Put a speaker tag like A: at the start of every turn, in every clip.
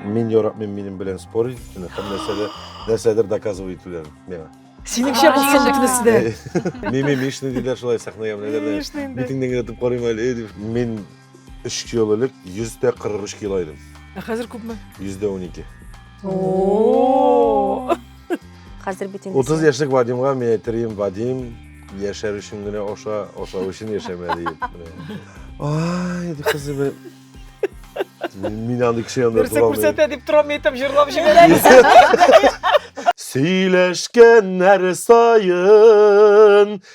A: Мин яратмыйм минем белән спор итүне һәм нәрсәдер, нәрсәдер доказывай итүләрен миңа. Синеңчә булсын
B: бөтенесе дә. Мими мишни диләр
A: шулай сәхнәгә менәләр дә. Мишни инде. Битеңнән генә этеп карыйм әле дип. Мин Өч ел элек 143 кило идем. Ә хәзер күпме? 112.
B: Хәзер бит
A: инде.
C: 30 яшьлек Вадимга
A: мин әйтерим, Вадим, яшәр өчен генә аша, ашау өчен яшәмә диеп. Ай, ди кызы бер. Мин андый кеше янында Нәрсә тора күрсәтә дип торам
B: әйтәм, җырлап җибәрәм. Сөйләшкәннәр
A: саен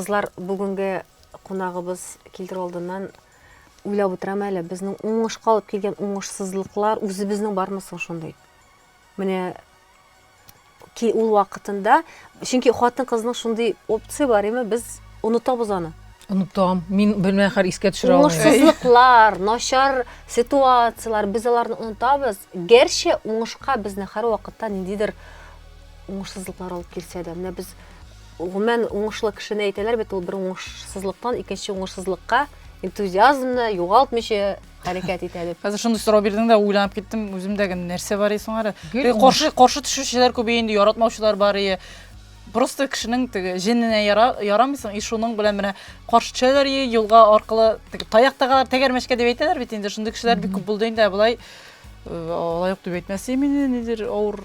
D: Кызлар,
C: бүгенге кунагыбыз килдер алдыннан уйлап утырам әле, безнең уңышка алып килгән уңышсызлыклар үзебезнең бармы соң шундый? Менә ки ул вакытында, чөнки хатын-кызның шундый опция бар, яме без онытабыз аны. Онытам. Мин
D: белмә хәр искә төшерә алмыйм. Уңышсызлыклар,
C: начар ситуацияләр, без аларны онытабыз. Гәрчә уңышка безне хәр вакытта ниндидер уңышсызлыклар алып килсә дә, менә без гомумән уңышлы кешене әйтәләр бит, ул бер уңышсызлыктан икенче уңышсызлыкка энтузиазмны югалтмыйча хәрәкәт итә дип. Хәзер шундый сорау бирдең дә,
E: уйланып киттем, үземдә генә нәрсә бар исең ары. Каршы каршы төшүчеләр күбәя инде, яратмаучылар бар ие. Просто кешенең теге җененә ярамыйсың, и шуның белән менә каршы төшәләр ие, юлга аркылы таяк тагалар, тәгәрмәчкә дип әйтәләр бит инде, шундый кешеләр бик күп булды инде, ә болай э, алай юк дип әйтмәс имени, нидер авыр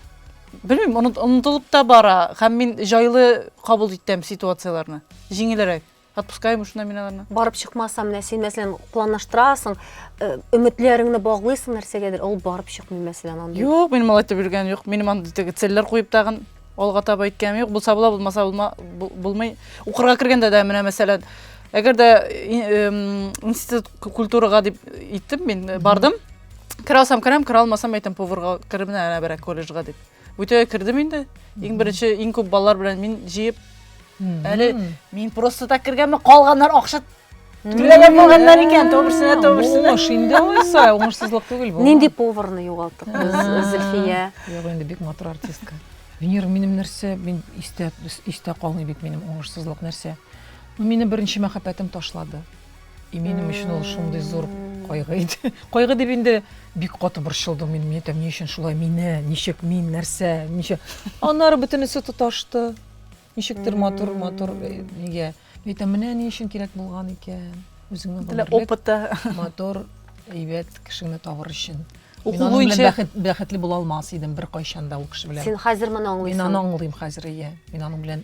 E: белмим, онытылып та бара һәм мин җайлы кабул итәм ситуацияләрне. Җиңелрәк. Отпускаем уж номинально. Барып чыкмаса, менә
C: син мәсәлән планлаштырасың, э, өметләреңне баглыйсың нәрсәгәдер, ул барып чыкмый мәсәлән андый. Юк, мин малай итеп йөргән
E: юк. Минем андый теге цельләр куеп тагын алга таба иткәнем юк. Булса була, булмаса булма, бу- булмый. Укырга кергәндә дә менә мәсәлән, әгәр дә и- эм, институт ку- культурага дип иттем мин, э, бардым. Керә алсам керәм, керә алмасам әйтәм поварга кереп менә әнә берәк колледжга дип. Бүтәгә кердем инде. Иң беренче, иң күп балалар белән мин җыеп. Әле мин просто так кергәнме, калганнар акча түләгән булганнар икән, то берсенә, то берсенә. Уңыш инде алайса,
D: уңышсызлык түгел бу. Нинди поварны югалттык
C: без, Зөлфия? Юк, инде бик матур
D: артистка. Венера, минем нәрсә, мин истә, истә калмый бит минем уңышсызлык нәрсә. Ну, мине беренче мәхәббәтем ташлады. И минем өчен ул шундый зур кайгы иде. Кайгы дип инде бик каты борчылдым мин, мин әйтәм, ни өчен шулай мине, ничек мин, нәрсә, ничек. Аннары бөтенесе тоташты. Ничектер матур, матур э, нигә. Мин әйтәм, менә ни өчен кирәк булган икән. Үзеңнең Для гомерлек опыта.
E: матур,
D: әйбәт кешеңне табыр өчен. Уку Мин аның белән буенча-
E: бәхет, бәхетле була алмас
D: идем беркайчан да ул кеше белән. Син хәзер моны Мин аңлыйсың. аны
C: аңлыйм хәзер,
D: иә. Мин аның белән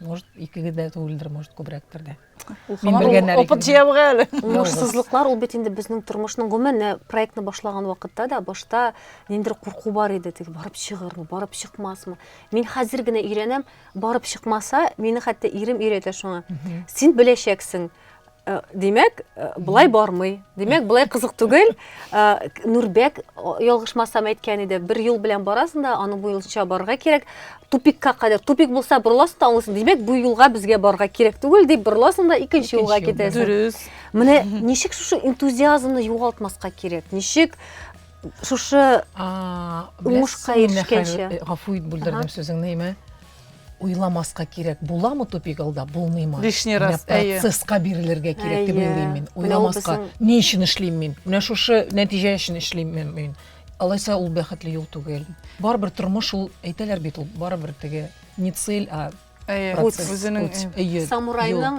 D: может икеге дә түгелдер может күбрәктер дә опыт
E: җыябыга әле уңышсызлыклар ул
C: бит инде безнең тормышның гомумән проектны башлаган вакытта да башта ниндидер курку бар иде теге барып чыгырмы барып чыкмасмы мин хәзер генә өйрәнәм барып чыкмаса мине хәтта ирем өйрәтә шуңа син беләчәксең Э, димәк э, былай бармый димәк былай кызык түгел э, нурбәк ялгышмасам әйткән иде бер юл белән барасың да аның буенча барырга кирәк тупикка кадәр тупик булса борыласың да аңлыйсың димәк бу юлга безгә барырга кирәк түгел дип борыласың да икенче юлга китәсең дөрес менә
E: ничек
C: шушы энтузиазмны югалтмаска кирәк ничек шушы уңышка ирешкәнче гафу ит бүлдердем
D: сүзеңне имә Уйламаска кирәк, буламы тупик алда, булмыймы? Лишний раз, әйе. Менә процесска
E: бирелергә
D: кирәк дип уйлыйм мин. Уйламаска, ни өчен эшлим мин? Менә шушы нәтиҗә өчен эшлим мин. Алайса ул бәхетле юл түгел. Барыбер тормыш ул, әйтәләр бит ул, барыбер теге не цель, а процесс.
E: Самурайның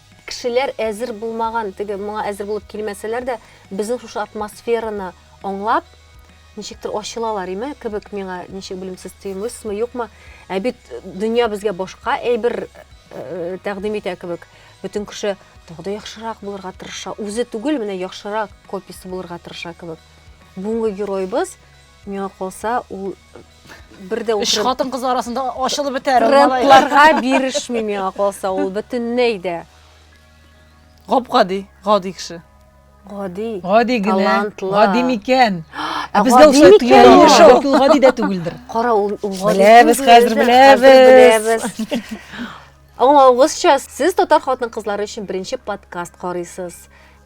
C: Кешеләр әзер булмаган, теге моңа әзер булып килмәсәләр дә, безнең шушы атмосфераны аңлап, ничектер ачылалар име кебек миңа, ничек белмим, сез тоемыйсызмы, юкмы? Ә бит дөнья безгә башка әйбер э, тәкъдим итә кебек. Бөтен кеше тагы да яхшырак булырга тырыша. Үзе түгел, менә яхшырак копиясе булырга тырыша кебек. Бүгенге героебыз Миңа калса, ул бер дә Өч хатын кыз арасында
E: ачылып бетәр. Трендларга
C: бирешми миңа калса, ул бөтенләй дә.
E: Гап-гади, гади кеше. Гади.
C: Гади генә.
D: Гади микән? Ә безгә ошый
C: тоелган
D: кеше
C: ул гади дә
D: түгелдер. Кара, ул гади.
C: Беләбез, хәзер беләбез.
D: Аңлагызча,
C: сез татар хатын-кызлары өчен беренче подкаст карыйсыз.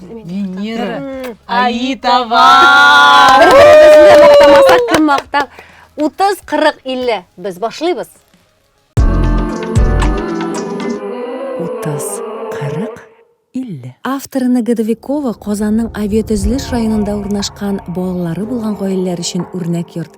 D: венера аитова бер
C: беребезне мактамасак кем мактап утыз кырык илле без башлыйбыз утыз кырык илле авторына годовикова казанның авиатөзелеш районында урнашкан балалары булган гаиләләр өчен үрнәк йорт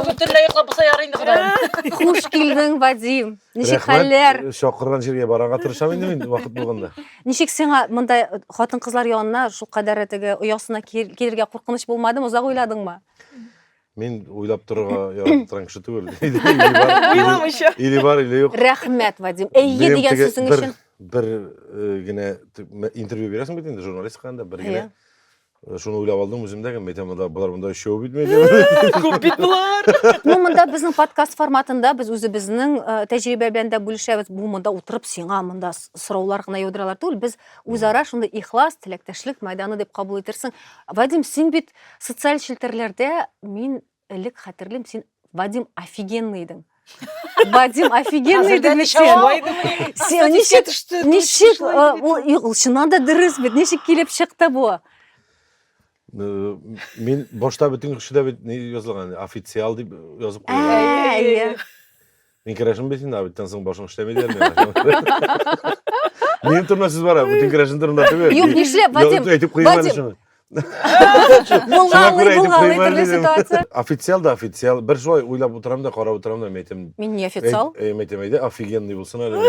E: Бөтенләй йоклап булса ярый инде Ходаем. Хуш килдең,
C: Вадим. Ничек хәлләр? Рәхмәт. Чакырган җиргә барырга
A: тырышам инде мин вакыт булганда. Ничек сиңа
C: мондай хатын-кызлар янына шул кадәр теге оясына кил- килергә куркыныч булмадымы? Озак уйладыңмы? Мин
A: уйлап торырга яратып торган кеше түгел. Или бар, или- Уйламыйча. Или бар, или юк. Рәхмәт, Вадим. Әйе
C: Минем дигән теге сүзең бер- өчен. Бер э,
A: генә т- мә- интервью бирәсең бит инде журналистикада бер Әйе. генә Э, Шуны уйлап алдым үзем дә, кем әйтә монда болар монда өчәү бит мин. Күп бит
B: болар. Ну, монда безнең
C: подкаст форматында без үзебезнең э, тәҗрибә белән дә бүлешәбез. Бу монда утырып сиңа монда с- сораулар гына яудыралар түгел. Без үзара шундый ихлас, теләктәшлек мәйданы дип кабул итерсең. Вадим, син бит социаль челтәрләрдә мин Элек хәтерлим, син Вадим офигенный идең. Вадим офигенный идең бит син. Син ничек ничек ул чыннан да дөрес бит. Ничек килеп чыкты бу? Э,
A: мин башта бөтен кеше дә бит ни язылган официал дип язып куйган.
C: Мин
A: керәшен бит инде, биттән соң башың эшләми дияр миңа. Минем турында сүз бара, бүтән керәшен турында түгел. Юк, нишләп, Вадим?
C: Әйтеп куймам әле Вадим. шуны.
A: Булганлый,
C: булганлый төрле ситуация. Официал да официал.
A: Бер шулай уйлап утырам да, карап утырам да, мәйтем. Мин не официал? Э,
C: мәйтем әйдә, офигенный
A: булсын әле.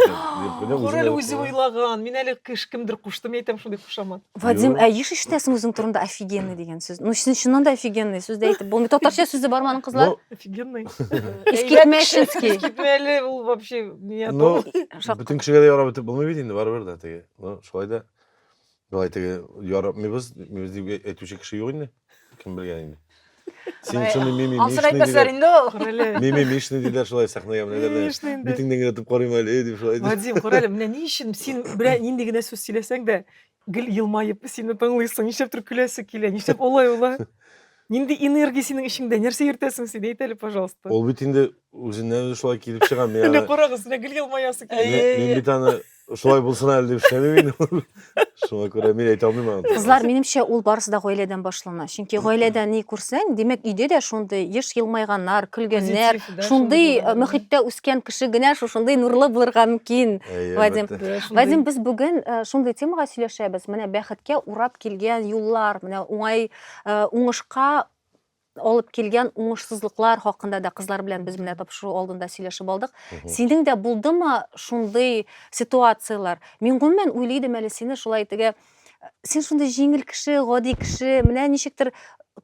A: Гүр әле үзе
B: уйлаган. Мин әле кеш кемдер куштым, әйтәм шундый кушамат. Вадим, Юк. ә еш
C: ишетәсең үзең турында офигенный дигән сүз. Ну, син чыннан да офигенный сүз дә әйтеп булмый. Татарча сүз дә барманың кызлар. Ну, Офигенный.
B: Искитмешинский.
C: Искитмәле ул
B: вообще не ну, Шак- бөтен
A: кешегә дә ярап бетеп булмый бит инде барыбер дә теге. Ну, шулай да. Былай теге ярап мибез, мибез дип әйтүче кеше юк инде. Кем белгән инде. Синең шундый мими Ансын әйтмәсләр инде
E: ул. Күрәле. Мими мишни
B: диләр шулай
A: сәхнәгә менә дәрдә. Мишни инде. Битеңдән генә тып карыйм әле дип шулай. Вадим, күрәле, менә ни
B: өчен син белән нинди генә сүз сөйләсәң дә, гел елмаеп сине тыңлыйсың, нишләптер көләсе килә, нишләп олай улай? Нинди энергия синең эчеңдә, нәрсә йөртәсең син, әйт әле, пожалуйста. Ул бит инде
A: үзеннән шулай килеп
B: чыга.
A: Менә
B: карагыз,
A: менә гел
B: елмаясы килә.
A: Мин бит
B: аны
A: Шулай булсын әле дип эшләмим инде. Шуңа күрә мин әйтә алмыйм аны. Кызлар, минемчә, ул
C: барысы да гаиләдән башлана. Чөнки гаиләдә ни күрсәң, димәк, өйдә дә шундый еш елмайганнар, көлгәннәр, Позитив, да, шундый шундый э,
B: булган. мөхиттә
C: үскән
B: кеше
C: генә шушындый нурлы булырга мөмкин. Әйе, Вадим. әлбәттә. Да, шундый. Вадим, без бүген э, шундый темага сөйләшәбез. Менә бәхеткә урап килгән юллар, менә уңай э, уңышка алып килгән уңышсызлыклар хакында да кызлар белән без менә тапшыру алдында сөйләшеп алдык. Синең дә булдымы шундый ситуацияләр? Мин гомумән уйлый идем әле сине шулай итеге. Син шундый җиңел кеше, гади кеше, менә ничектер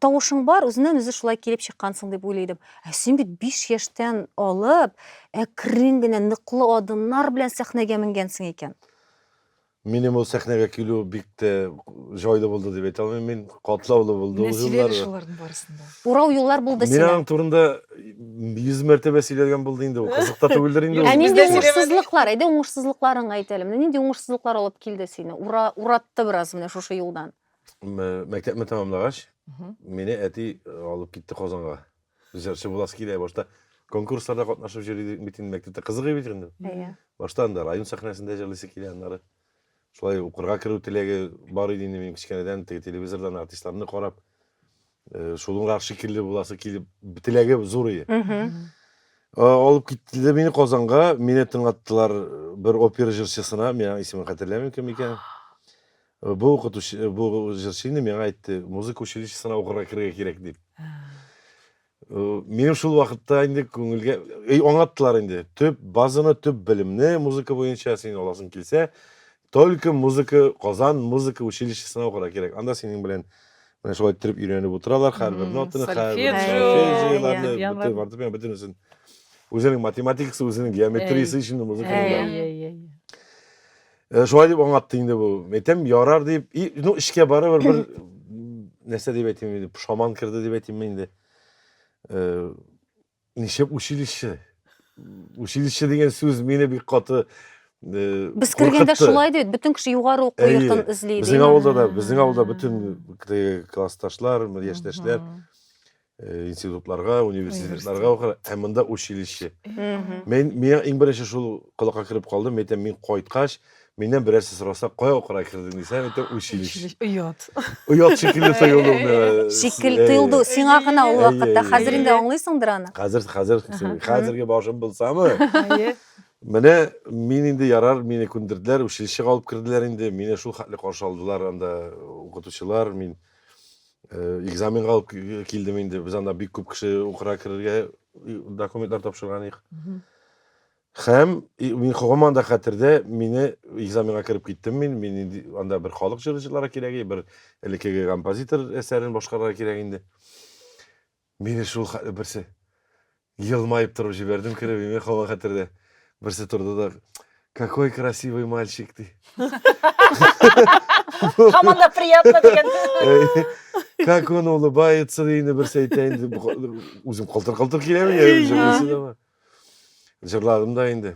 C: тавышың бар, үзеннән үзе шулай килеп чыккансың дип уйлый идем. Ә син бит 5 яшьтән алып, әкрен генә ныклы адымнар белән сәхнәгә менгәнсең икән.
A: Минем ул сәхнәгә килү бик тә җайлы булды дип әйтә алмыйм мин. Катлаулы булды ул җилләр. Менә шуларның барысын
B: да. Урау юллар булды
C: сиңа. Мин аның турында
A: 100 мәртәбә сөйләгән булды инде ул. Кызык та түгелдер инде ул. Ә нинди уңышсызлыклар?
B: Әйдә
C: уңышсызлыкларыңны әйт әле. Менә нинди уңышсызлыклар алып килде сине? Ура, уратты бераз менә шушы юлдан. Мәктәпне
A: тәмамлагач, мине әти алып китте Казанга. Җырчы буласы килә, башта конкурсларда катнашып җырлый идек бит инде мәктәптә. Кызык бит инде. Әйе. Башта анда район сәхнәсендә җырлыйсы килә, аннары шулай укырга керү теләге бар иде инде минем кечкенәдән, теге телевизордан артистларны карап, э, шулыңрак шикелле буласы килеп, теләге зур иде. Э, Алып киттеләр мине Казанга, мине тыңлаттылар э, бер опера җырчысына, мин аның исемен хәтерләмим кем икән. Бу укытучы, бу җырчы инде миңа әйтте, музыка училищесына укырга керергә кирәк дип. Минем шул вакытта инде күңелгә аңлаттылар инде. Төп базаны, төп белемне музыка буенча син аласың килсә, только музыка Казан музыка училищесына укырга кирәк. Анда синең белән менә шулай иттереп өйрәнеп утыралар, һәрбер нотаны, һәрбер сольфеджиоларны, бөтен фортепиано, бөтенесен. Үзенең математикасы, үзенең геометриясе өчен музыка. Э, шулай дип аңлатты инде бу. Әйтәм, ярар дип, и, ну, эшкә барыбер бер нәрсә дип әйтим инде, пушаман керде дип әйтимме инде. Э, Ничек училище? Училище дигән сүз мине бик каты э, Без
C: кергәндә куркытты. шулай дип, бөтен кеше югары уку Әйе. йортын эзли. Безнең авылда да, безнең авылда
A: бөтен классташлар, яшьтәшләр э, институтларга, университетларга укыр, һәм монда училище. Мгм. Мен миңа иң беренче шул колакка кереп калды, мен әйтәм, мин кайткач, миннән берәрсе сораса, кая укырга кердең дисәм, әйтәм, училище. Училище. Оят.
B: Оят шикелле тоелды ул
A: миңа. Шикел Әйе. тыелды
C: сиңа гына ул Әйе, вакытта. әйе, Хәзер әйе. инде аңлыйсыңдыр аны. Хәзер, хәзер, хәзерге
A: башым булсамы? Әйе. Менә мин инде ярар, мине күндерделәр, училищега алып керделәр инде. Мине шул хәтле каршы алдылар анда укытучылар, мин экзаменга алып килдем инде без анда бик күп кеше укырга керергә документлар тапшырган идек һәм мин һаман да хәтердә мине экзаменга кереп киттем мин мин инде анда бер халык җырчылары кирәк бер элеккеге композитор әсәрен башкарырга кирәк инде Мине шул хәтле берсе елмаеп торып җибәрдем кереп, имя кала хәтердә. Берсе торды да, какой красивый мальчик, ди. Һаман
B: да приятно дигән.
A: Как он улыбается, ди инде берсе әйтә инде. Бу ка- Үзем калтыр-калтыр киләме? Җырладым да инде.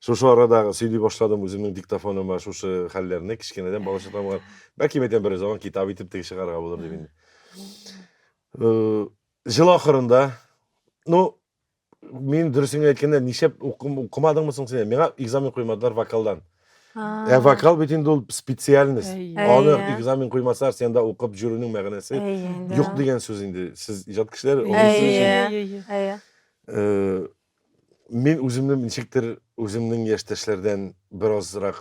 A: Шушы арадагы сөйли башладым үземнең диктофоныма шушы хәлләрне, кечкенәдән балачактан булган. Бәлки мәйтәм бераз аңа китап итеп теге чыгарга булыр дип инде. Э, Жыл ахырында, ну, мин дөресен генә әйткәндә, нишләп укым- укымадыңмы соң син? Миңа экзамен куймадылар вокалдан. Ә вокал бит инде ул специальность. Әй. Аны Әйе. экзамен куймасалар, сен дә укып йөрүнең мәгънәсе Әйе, да. юк дигән сүз инде. Сез иҗат кешеләре, Әйе. аңлыйсыз. Әйе. Әйе. Э, Мин үземне ничектер үземнең яшьтәшләрдән беразрак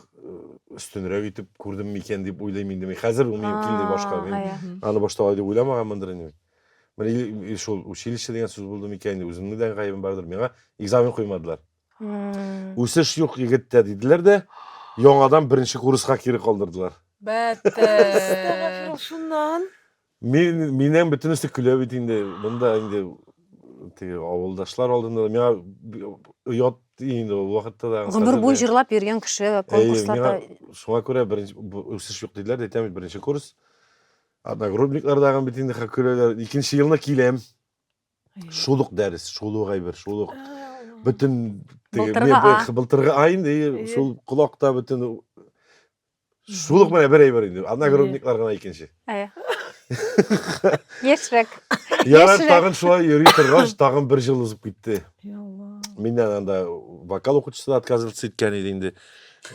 A: өстенрәк итеп күрдем микән дип уйлыйм инде. Мин хәзер бу мөмкин дип башка. Мин аны башта алай дип уйламаганмындыр инде. Менә шул училище дигән сүз булды микән, үземнең дә гаебем бардыр. Миңа экзамен куймадылар. Үсеш юк егеттә диделәр дә, яңадан беренче курска кире калдырдылар. Бәттер.
B: Шуннан Мин, миннән
A: бөтенесе көлә бит инде. Монда инде теге авылдашлар алдында да миңа би- оят инде ул вакытта да. Гомер хәзер буе дә. җырлап йөргән
C: кеше Әйе, конкурсларда
A: миңа шуңа күрә беренче бу- үсеш
C: юк
A: диделәр, әйтәм бит, беренче курс. Одногруппниклар дагы бит инде хә- көләләр. Икенче елны киләм, шул ук дәрес, шул ук әйбер, шул ук бөтен теге Былтыргы мебель, А. былтыргы А инде, и Әйе. шул колакта бөтен Шул ук менә бер әйбер инде. Одногруппниклар гына икенче.
C: Әйе. Яшьрәк. Ярар, тагын
A: шулай йөри торгач, тагын бер жыл узып китте. Миннән анда вокал укытучысы да отказываться иткән иде инде.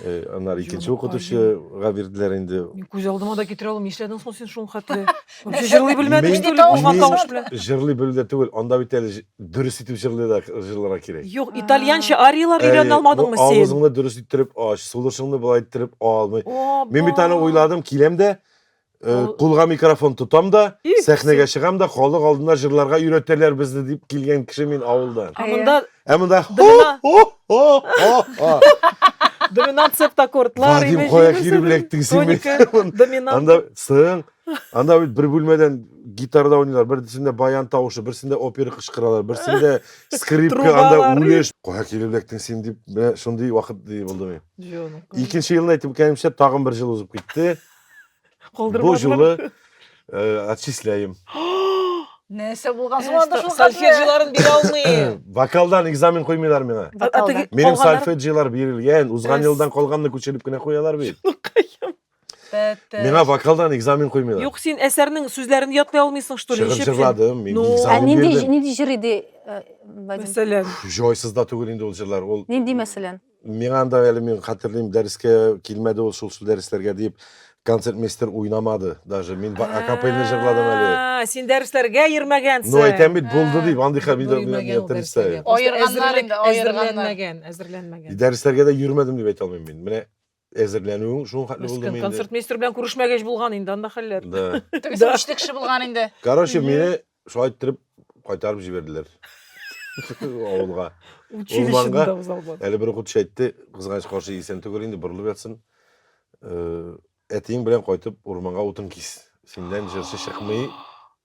A: Э, аннары икенче укытучыга бирделәр инде. Күз алдыма да китерә
B: алмыйм. Нишләдең соң син шул хәтле? Үзе җырлый белмәде Мин- что ли, Мин- булган тавыш белән? Җырлый белү дә түгел,
A: анда бит әле җ- дөрес итеп җырлый да җырларга кирәк. Юк, итальянча
B: арияләр Әйе, өйрәнә бу алмадыңмы син? Авызыңны дөрес иттереп
A: ач, сулышыңны болай иттереп алмый. Оба! Мин бит аны уйладым, киләм дә, э, Ау. кулга микрофон тотам да, Их, сәхнәгә чыгам да, халык алдында җырларга өйрәтәләр безне дип килгән кеше мин авылдан. А монда Ә монда Дымына- хо-хо-хо-хо.
B: доминант септаккордлар, Вадим, имеш, кая имеш, кире
A: беләктең син Тоника, мине? доминант. Анда
B: сың,
A: Анда бит бер бүлмәдән гитарада уйныйлар, берсендә баян тавышы, берсендә опера кычкыралар, берсендә скрипка, анда үлеш. Кая килеп эләктең син дип, менә шундый вакыт ди булды мин. Икенче елны әйтеп кәемчә тагын бер ел узып китте. Бу юлы э, отчисляем.
E: Нәрсә булган соң анда шул Сольфеджиларын бирә
B: алмыйм. Вокалдан экзамен
A: куймыйлар миңа. Минем сольфеджилар бирелгән, узган елдан калганны күчереп кенә куялар бит. Миңа вокалдан экзамен куймыйлар. Юк, син әсәрнең
B: сүзләрен ятлый алмыйсың, что ли? Шыгыр җырладым, мин ну, экзамен бирдем.
A: Ә нинди, нинди җыр иде?
C: Э, мәсәлән.
B: Җойсыз да
A: түгел инде ул җырлар. Ул Нинди мәсәлән?
C: Миңа анда әле
A: мин хәтерлим, дәрескә килмәде ул шул шул дәресләргә дип концертмейстер уйнамады даже. Мин акапельный җырладым әле. Син дәресләргә
B: йөрмәгәнсең. Ну, әйтәм бит, булды
A: дип, андый хәбил дә Әзерләнмәгән, әзерләнмәгән.
B: Дәресләргә дә йөрмәдем
A: дип әйтә алмыйм мин. Менә Әзерләнүең шуның хәтле булдымы инде? Концертмейстер белән күрешмәгәч
B: булган инде анда хәлләр. Да. Тегесе үчле
A: кеше булган
E: инде. Короче, мине
A: шулай иттереп кайтарып җибәрделәр. Авылга. Училищеда
B: узалган. Әле бер укытучы әйтте,
A: кызганыч каршы исән түгел инде, борылып ятсын. Әтиең белән кайтып урманга утын кис. Синнән җырчы чыкмый.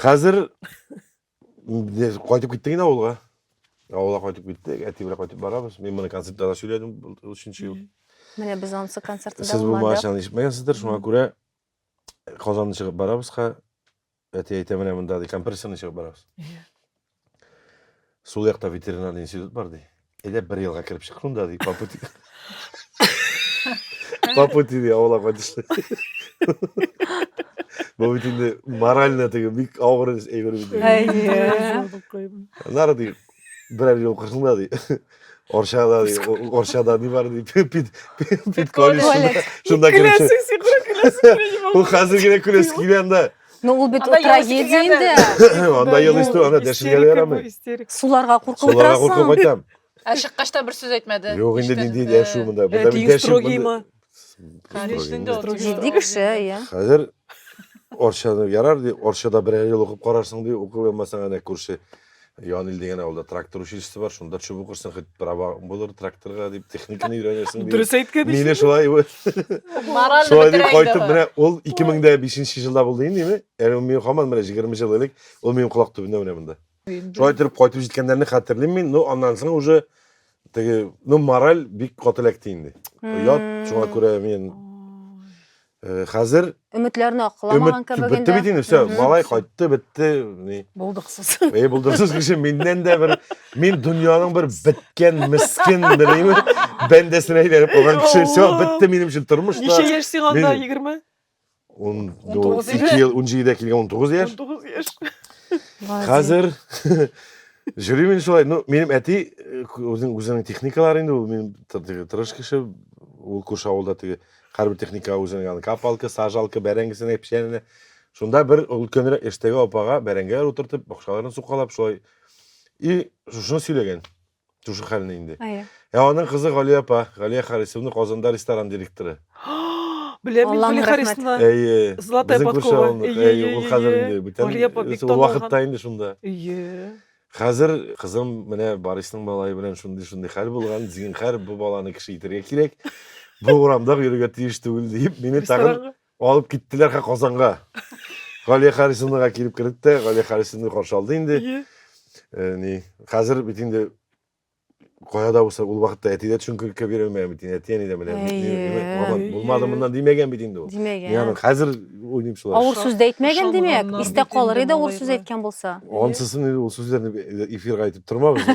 A: Хәзер кайтып киттек инде авылга. Авылга кайтып киттек, әти белән кайтып барабыз. Мин моны концертта да сөйләдем, ул өченче ел. Менә без ансы
C: концертта да Сез бу машинаны
A: ишетмәгәнсездер, шуңа күрә Казанны чыгып барабызга, әти әйтә менә монда компрессорны чыгып барабыз. Сул якта ветеринар институт бар, ди. Әйдә бер елга кереп чык шунда, ди, по пути. По пути, ди, авылга кайтышлы. Бу бит инде морально теге бик авыр әйбер бит. Әйе. Нары ди, берәр ел кырсында, ди. Оршада, ди, Оршада ни бар, ди, пит, пит, пит, пит, колледж. Шунда кереп чык. Көләсең, сикры көләсең.
B: Ул хәзер генә
A: көләсең килгәндә. Ну, ул бит
C: трагедия инде. Анда ел исте, анда
A: дәшергә дә ярамый. Суларга куркып
C: Суларга куркып кайтам.
A: Ә
C: чыккач
A: та бер сүз
E: әйтмәде. Юк, инде нинди дәшү
A: монда. Бу да бит дәшү.
C: Җитди кеше, иә. Хәзер
A: Орчаны ярар, ди, Орчада берәр ел укып карарсың, ди, укып алмасаң, әнә күрше. Янил дигән авылда трактор училищесы бар, шунда төшеп укырсың, хоть права булыр тракторга дип, техниканы өйрәнерсең дип. Дөрес әйткән ич. Мине шулай
B: Мораль
E: Шулай дип кайтып,
A: менә ул 2005 елда булды инде, ме? Әле ул мин хаман менә 20 ел элек, ул минем колак төбендә менә монда. Шулай торып кайтып җиткәннәрне хәтерлим мин, но аннан соң уже теге, ну мораль бик каты эләкте инде. Оят, шуңа күрә мин Э, хәзер өметләрне акламаган кебек
C: инде. Бетте бит инде, все,
A: малай кайтты, бетте. Ни? Булдыксыз. Әй,
B: булдыксыз кеше
A: миннән дә бер мин дөньяның бер беткән мискин беләйме? Бәндәсенә әйләнеп калган кеше, все, бетте минем өчен тормыш та. Ничә яшь сиңа анда 20? 19 ел, 17 дә килгән 19 яшь. 19 яшь.
B: Хәзер
A: Жюри мин шулай, ну, минем әти э, үзенең техникалары инде, ул мин тырыш кеше, ул күрше авылда теге Хәрби техника үзенең аны капалка, сажалка, бәрәңгесенә печәненә. Шунда бер өлкәнрәк яшьтәге апага бәрәңгеләр утыртып, бакчаларын сукалап шулай. И шушыны сөйләгән. Шушы хәлне инде. Әйе. Ә аның кызы Галия апа, Галия Харисовна Казанда ресторан директоры. Беләм
B: мин Галия Харисовна. Әйе.
C: Золотая
B: подкова. Әйе,
A: ул
B: хәзер
A: инде бүтән. Ул вакытта
B: инде
A: шунда. Әйе. Хәзер кызым менә Барисның малае белән шундый-шундый хәл булган, зинхар бу баланы кеше итәргә кирәк, бу урамда йөрергә тиеш түгел диеп, мине тагын Ресторанга. алып киттеләр ха Казанга. Галия Харисовнага килеп кердек тә, Галия Харисовна каршы алды инде. Ие. Э, Ни, хәзер бит инде Кая да булса ул вакытта әти дә төшенкелеккә бирә алмаган бит инде, әти-әни дә белә. Маман булмады моннан димәгән бит инде ул. Димәгән. Мин аны хәзер уйлыйм шулай. Авыр сүз дә әйтмәгән
C: димәк, истә калыр иде авыр сүз әйткән булса. Ансысын инде ул
A: сүзләрне эфирга әйтеп тормабыз.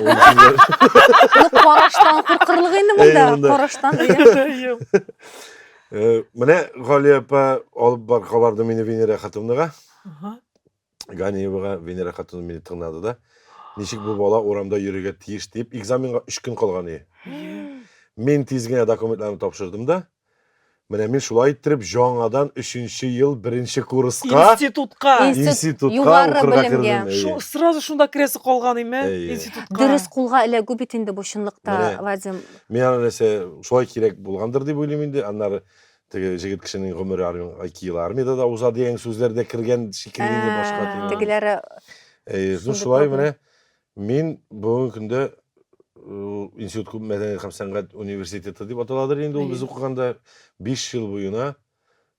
A: Караштан
C: куркырлык инде монда, караштан дигән.
A: Менә Галия апа алып бар кабарды мине Венера хатынлыга. Ганиевага Венера хатыным мине тыңнады да, ничек бу бала урамда йөрергә тиеш дип, экзаменга өч көн калган иде. Мин тиз генә документларны тапшырдым да, менә мин шулай иттереп җаңадан өченче ел беренче курска, Институтка. Институт,
B: институтка югары
C: укырга белемгә. кердем. Шу- Әйе. Сразу шунда керәсе
B: калган име? Әйе. Институтка. Дөрес кулга эләгү
C: бит инде бу чынлыкта, Менә. Вадим. Миңа нәрсә,
A: шулай кирәк булгандыр дип уйлыйм инде. Аннары Теге җегет кешенең гомере армиягә ике ел армиядә дә уза дигән сүзләр дә кергән шикелле инде башка. Ә, Тегеләре
C: Э, Ну,
A: шулай менә мин бүгенге көндә э, институт күп мәдәният һәм сәнгать университеты дип аталадыр инде ул без укыганда биш ел буена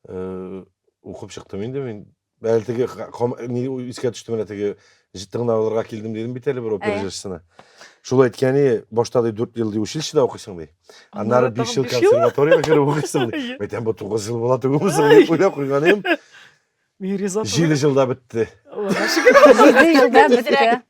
A: э, укып чыктым инде мин Әле теге ни искә төште менә теге тыңлауларга килдем дидем бит әле бер опера Әйе. җырчысына. Шул әйткәне, башта ди 4 ел ди училищеда укыйсың ди. Аннары 5 ел консерваториягә кереп укыйсың ди. Әйтәм, бу 9 ел була түгел бу соң дип уйлап куйган идем. Мин риза. 7 җылда бетте. Аллага шөкер.
C: 7 җылда бетте.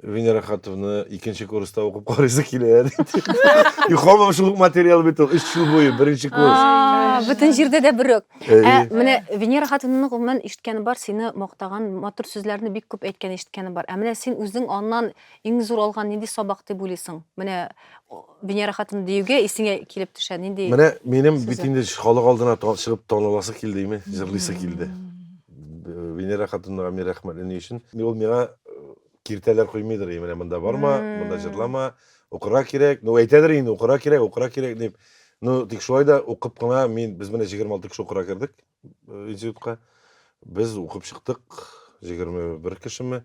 A: Венера хатовны икенче курста укып карыйсы килә диде. Юхамам шул материал бит ул. Өч ел буе беренче курс. А, Бөтен җирдә дә бер
C: үк. Ә, Әйе. менә Венера хатынының гомумән ишеткәне бар, сине мактаган, матур сүзләрне бик күп әйткән ишеткәне бар. Ә менә син үзең аннан иң зур алган нинди сабак дип уйлыйсың? Менә Венера хатын диюгә исеңә килеп төшә нинди? Менә минем бит инде
A: халык алдына чыгып таныласы килде име, җырлыйсы килде. Венера хатынга мин рәхмәтле ни өчен? Ул миңа э, киртәләр куймыйдыр, менә монда барма, монда җырлама, укырга кирәк. Ну әйтәдер инде, укырга кирәк, укырга кирәк дип. Ну тик шулай да укып кына мин без менә 26 кеше укырга кердек э, институтка. Без укып чыктык 21 кешеме.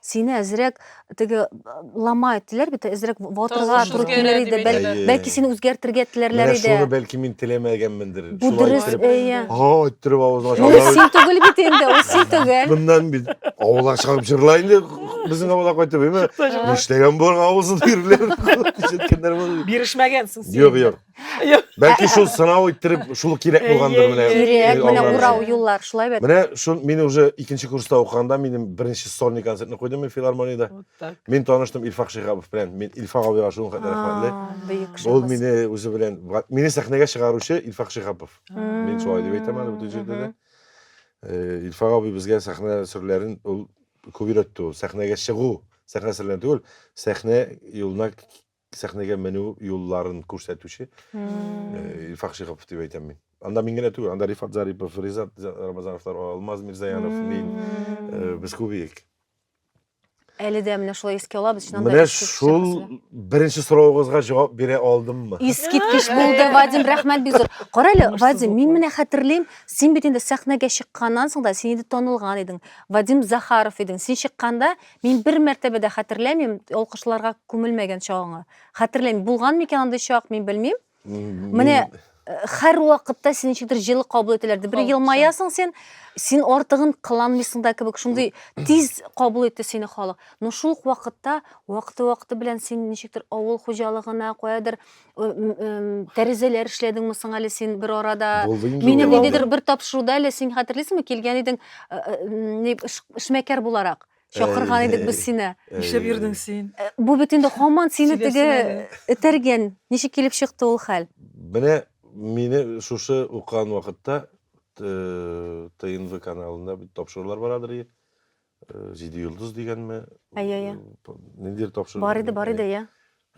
C: Сине әзрәк теге ламай теләр бит, әзрәк ватырга Тавыш туры килер иде. Бәл, Әйе. бәлки сине үзгәртергә теләрләр Менә шуны иде. бәлки мин
A: теләмәгәнмендер. Бу Шулай дөрес, иттереп,
C: әйе. Ха, иттереп
A: авызын Ул ача. син түгел бит
C: инде, ул син түгел. Моннан бит
A: авылга чыгып җырла инде безнең авылга кайтып, әйме? Нишләгән болар авызын бирүләр? Ишеткәннәр булыр. Бирешмәгәнсең син. Юк,
B: юк.
A: Бәлки шул сынау иттереп шул кирәк булгандыр менә. Кирәк, менә урау
C: юллар шулай бит. Менә шул мин уже
A: икенче курста укыганда минем беренче сольный концертны куйдым мин филармониядә. Мин таныштым Илфак Шихабов белән. Мин Илфак абыйга шул хәтле рәхмәтле. Ул мине үзе белән мине сәхнәгә чыгаручы Илфак Шихабов. Мин шулай дип әйтәм әле бүтән җирдә дә. Илфак абый безгә сәхнә серләрен ул күп өйрәтте ул. Сәхнәгә чыгу, сәхнә серләрен түгел, сәхнә юлына сәхнәгә менү юлларын күрсәтүче Илфак Шихов дип әйтәм мин. Анда мин генә түгел, анда Рифат Зарипов, Ризат Рамазановлар, Алмаз Мирзаянов, мин, э, без күп идек.
C: Әле дә менә шулай искә алабыз, чыннан да. Менә искиткеч шул шәхесләр.
A: беренче сорауыгызга җавап бирә алдыммы? Искиткеч булды,
C: Вадим, рәхмәт бик зур. Кара әле, Уңышсыз Вадим, булып мин калды. менә хәтерлим, син бит инде сәхнәгә чыкканнан соң да син инде танылган идең. Вадим Захаров идең. Син чыкканда Мин бер мәртәбә дә хәтерләмим алкышларга күмелмәгән чагыңа. Хәтерләмим. Булган микән андый чак, мин белмим. Менә э, һәр вакытта сине ничектер җылы кабул итәләрде. Бер елмаясың син, син артыгын кыланмыйсың да кебек. Шундый тиз кабул итте сине халык. Но шул ук вакытта вакыты-вакыты белән син ничектер авыл хуҗалыгына, каядыр тәрәзәләр эшләдеңме соң әле син бер арада булды инде мине ниндидер
A: бер тапшыруда
C: әле син хәтерлисеңме килгән идең эшмәкәр буларак чакырган идек без сине эшләп йөрдең син
B: бу бит инде һаман
C: сине теге
B: этәргән ничек
C: килеп чыкты ул хәл менә
A: мине шушы укыган вакытта тнв каналында бит тапшырулар барадыр э, Җиде йолдыз дигәнме? Әйе, әйе.
C: Э, ниндидер
A: тапшыру. Бар иде, бар иде, иә.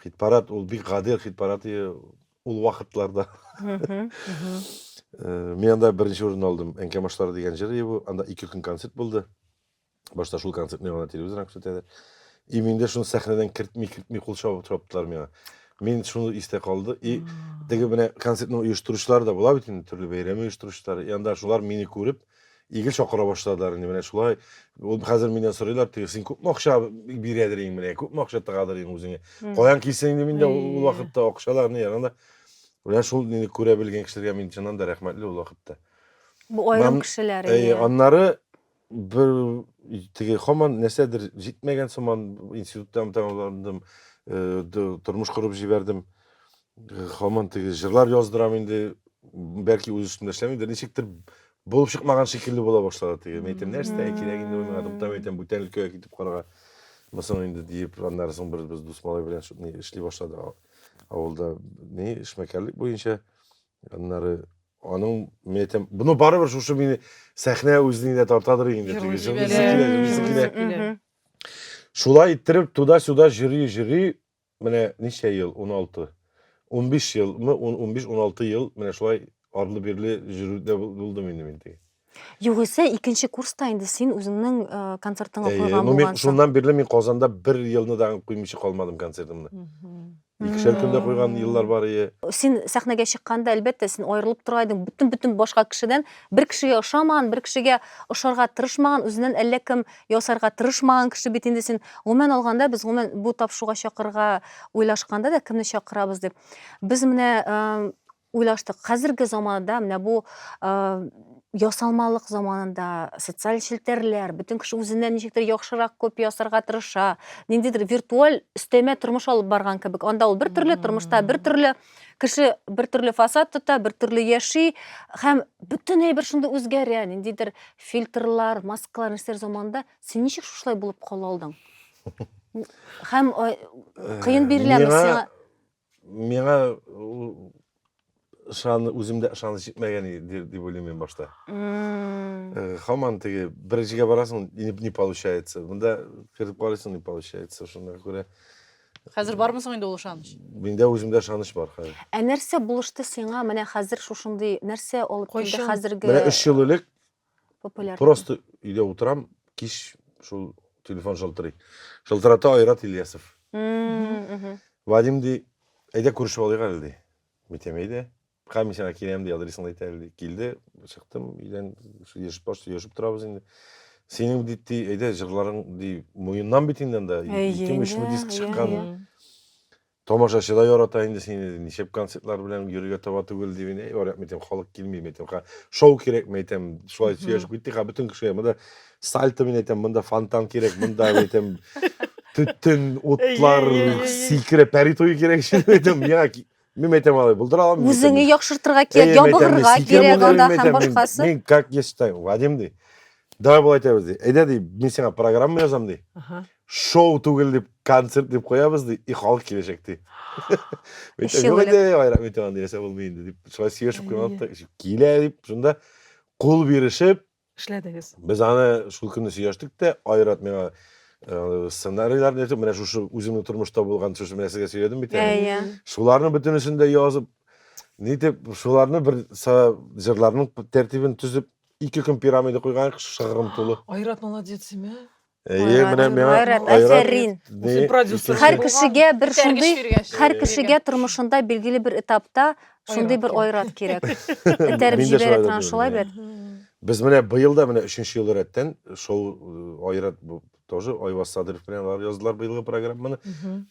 C: Хит-парад, ул
A: бик гадел хит-парад иде ул вакытларда. Э, мин анда беренче урын алдым. Әнкә башлары дигән җыр иде бу. Анда ике көн концерт булды. Башта шул концертны гына телевизордан күрсәтәләр. И миндә шуны сәхнәдән кертми, кертми кул чабып чаптылар миңа. Мин шуны истә калды. И теге менә концертны оештыручылар да була бит инде, төрле бәйрәм оештыручылар. И анда шулар мине күреп, Игел чакыра башладылар инде менә шулай. Ул хәзер миннән сорыйлар, теге син күпме акча бирәдер инде менә, күпме акча тыгадыр инде үзеңә. Каян килсен инде миндә ул вакытта акчаларны ягында. Менә шул инде күрә белгән кешеләргә мин чыннан да рәхмәтле ул вакытта. Бу аерым
C: кешеләр инде. Аннары
A: бер теге хаман нәрсәдер җитмәгән сыман институттан тәмамландым, тормыш корып җибәрдем. Хаман теге җырлар яздырам инде, бәлки үз өстендә эшләмидер, ничектер булып чыкмаган шикелле була башлады теге. Мин әйтәм, нәрсә кирәк инде миңа, туктам әйтәм, бүтән өлкәгә китеп карга. Мысын инде диеп, аннары соң бер без дус малай белән ни эшли башлады авылда ни эшмәкәрлек буенча. Аннары аның мин әйтәм, буны барыбер шушы мине сәхнә үзенә генә тартадыр инде теге җырлыйсы килә, җырлыйсы килә. Шулай иттереп туда-сюда җыри-җыри Менә ничә ел, уналты. Унбиш елмы, унбиш, уналты ел менә шулай арлы-бирле йөрүдә булдым инде мин теге. Югыйсә,
C: икенче курста инде син үзеңнең концертыңа куйган булгансың. Әйе, ну мин шуннан бирле мин
A: Казанда бер елны да куймыйча калмадым концертымны. Икешәр көндә куйган еллар бар ие. Син сәхнәгә
C: чыкканда, әлбәттә, син аерылып тора идең бөтен-бөтен башка кешедән. Бер кешегә ошамаган, бер кешегә ошарга тырышмаган, үзеннән әллә кем ясарга тырышмаган кеше бит инде син. Гомумән алганда, без гомумән бу тапшыруга чакырырга уйлашканда да кемне чакырабыз дип, без менә уйлаштык. Хәзерге заманда менә бу ясалмалык заманында социаль челтәрләр, бөтен кеше үзеннән ничектер яхшырак күп ясарга тырыша. Ниндидер виртуаль өстәмә тормыш алып барган кебек. Анда ул бер төрле, тормышта бер төрле. кеше бер төрле фасад тота бер төрле яши һәм бөтенләй бер шундый үзгәрә ниндидер фильтрлар маскалар нәрсәләр заманында син ничек шушылай булып кала алдың һәм э, кыен э, биреләме сиңа миңа
A: ышан үземдә ышаныч җитмәгән иде дип уйлыйм мин башта э, һаман теге бер җиргә барасың не получается монда кереп карыйсың не получается шуңа күрә Хәзер
E: бармы соң инде ул ышаныч? Миндә үземдә ышаныч
A: бар хәзер. Ә нәрсә булышты
C: сиңа менә хәзер шушындый нәрсә алып килде Кайчан? хәзерге Менә өч ел элек
A: популяр?
C: просто өйдә
A: утырам, кич шул телефон шалтырый. Шалтырата Айрат Ильясов. М, мгм. Вадим ди, әйдә күрешеп алыйк әле ди. Мин әйтәм, әйдә. Комиссиягә киләм ди, адресыңны әйтә әле ди. Килде, чыктым өйдән, сөйләшеп баш сөйләшеп торабыз инде. Синең бит ди, әйдә җырларың ди, муеннан бит инде анда. Әйе Икеме, үчме инде, диск әйе, чыккан. әйе. Тамашачы да ярата инде сине, ди. Ничек концертлар белән йөрергә таба түгел ди. Мин, әй, барак, мәйтәм, халык килми, мәйтәм, ха, шоу кирәк, мәйтәм. Шулай сөйләшеп киттек, ха, бөтен кешегә. Монда сальто, мин әйтәм, монда фонтан кирәк, монда, мәйтәм, төтен, утлар, Әйе, әйе, әйе. сикерә, пәри туе кирәк шул, мәйтәм. Миңа ки- Мин әйтәм алай, булдыра алам. мин әйтәм, Үзеңне мин- яхшыртырга Әй,
C: кирәк, мин әйтәм, ябыгырга мин сикәм кирәк булдым, анда мин һәм әйтәм, мин- башкасы. Мин как я считаю,
A: Вадим ди. Давай болай итәбез ди. Әйдә ди, мин сиңа программа язам ди. Аха. Шоу түгел дип, концерт дип куябыз ди, и халык киләчәк ди. Мин Эче әйтәм, юк белән. инде, айрак мин тагын нәрсә булмый инде дип, шулай сөйләшеп куйган да, килә дип, шунда кул бирешеп, эшләдегез? Без
B: аны шул
A: көнне сөйләштек тә, Айрат миңа сценарийларны әйтеп, менә шушы үзеңнең тормышта булган, шушы менә сезгә сөйләдем бит әле. Шуларның бөтенесен дә язып, нитеп, шуларны бер җырларның тәртибен төзеп, ике көн пирамида куйган шыгрым тулы. Айрат молодец, имә.
B: Әйе, Айрат, менә
A: миңа Айрат, Айрат афәрин.
C: не Үсеп продюсер. икенче- Һәр кешегә бер Этәргеч
B: шундый, биргән
C: шикелле. һәр кешегә тормышында билгеле бер этапта шундый бер айрат кирәк. Этәреп Мин дә шулай җибәрә да торган дөрес, шулай иә. бит. Без менә
A: быел да менә өченче ел рәттән шоу э, Айрат бу тоже Айваз Садыров белән алар яздылар быелгы программаны.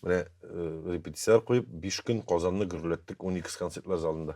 A: Менә э, репетицияләр куеп, биш көн Казанны гөрләттек 12 концертлар залында.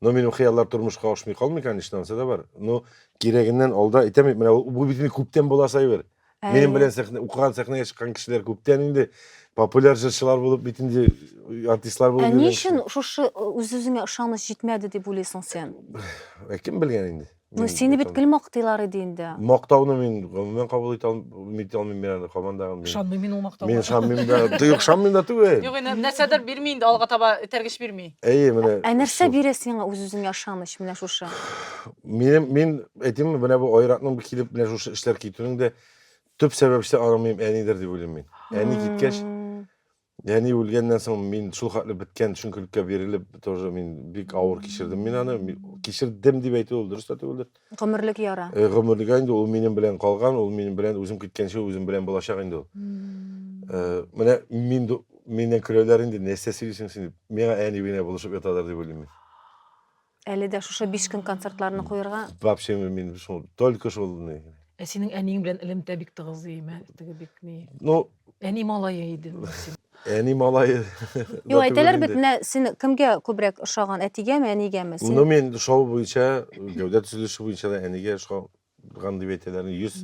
A: Но минем хыяллар тормышка ашмый калмый, конечно, ансы да бар. Но кирәгеннән алда әйтәм бит, менә бу бит күптән була Сайбер. Минем белән сәхнә укыган сәхнәгә чыккан кешеләр күптән инде популяр җырчылар булып бит инде артистлар булып. Ә ни өчен шушы
C: үз-үзеңә ышаныч җитмәде дип уйлыйсың син? Ә кем белгән
A: инде? Ну, сине бит гел
C: мактыйлар иде инде. Мактауны мин
A: гомумән кабул итә алмыйм, мин аны командага. Ышанмыйм мин ул
D: мактауга. Мин ышанмыйм да,
A: юк, ышанмыйм да түгел. Юк, инде нәрсәдер бирми
E: инде, алга таба этәргеч бирми. Әйе, менә. Ә нәрсә
A: бирә сиңа
C: үз-үзеңә ышаныч менә шушы? Мин мин
A: әйтимме, менә бу айратның килеп менә шушы эшләр китүнең дә төп сәбәпчесе аның минем әнидер дип уйлыйм мин. Әни киткәч, Әни үлгәннән соң мин шул хәтле беткән төшенкелеккә бирелеп, тоже мин бик авыр кичердем мин аны. Кичердем дип әйтү ул дөрес тә түгелдер. Гомерлек яра.
C: Э, гомерлек инде ул минем
A: белән калган, ул минем белән үзем киткәнче үзем белән булачак инде ул. Э, менә мин миннән көләләр инде, нәрсә сөйлисең син дип. Миңа әни белән булышып ятадыр дип уйлыйм мин. Әле
C: дә шушы биш көн концертларны куерга. Вообще мин
A: шул только шул ни. Ә синең әниең
D: белән элемтә бик тыгыз ди, мә, теге бик ни. Ну, әни
A: малае
D: иде. Әни малае.
A: Юк, әйтәләр
C: бит, менә син кемгә күбрәк ошаган, әтигәме, әнигәме? Син... Ну, мин шоу
A: буенча, гәүдә төзелеше буенча да әнигә ошаган дип әйтәләр. Йөз,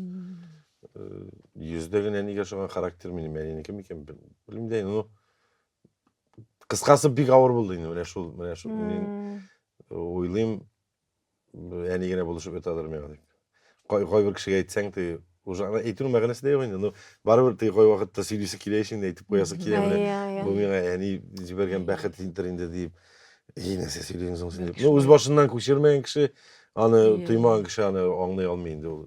A: йөздә генә әнигә ошаган характер минем әнинеке микән, белмим дә, ну, кыскасы бик авыр булды инде менә шул менә шул мин уйлыйм әни генә булышып ята алыр миңа дип кайбер кешегә әйтсәң ты уже ана әйтүнең мәгънәсе дә юк инде ну барыбер ты кайвакытта сөйлисе килә ич инде әйтеп куясы килә менә бу миңа әни җибәргән бәхетдер инде дип и нәрсә сөйлисең соң син дип ну үз башыннан күчермәгән кеше аны тоймаган кеше аны аңлый алмый инде ул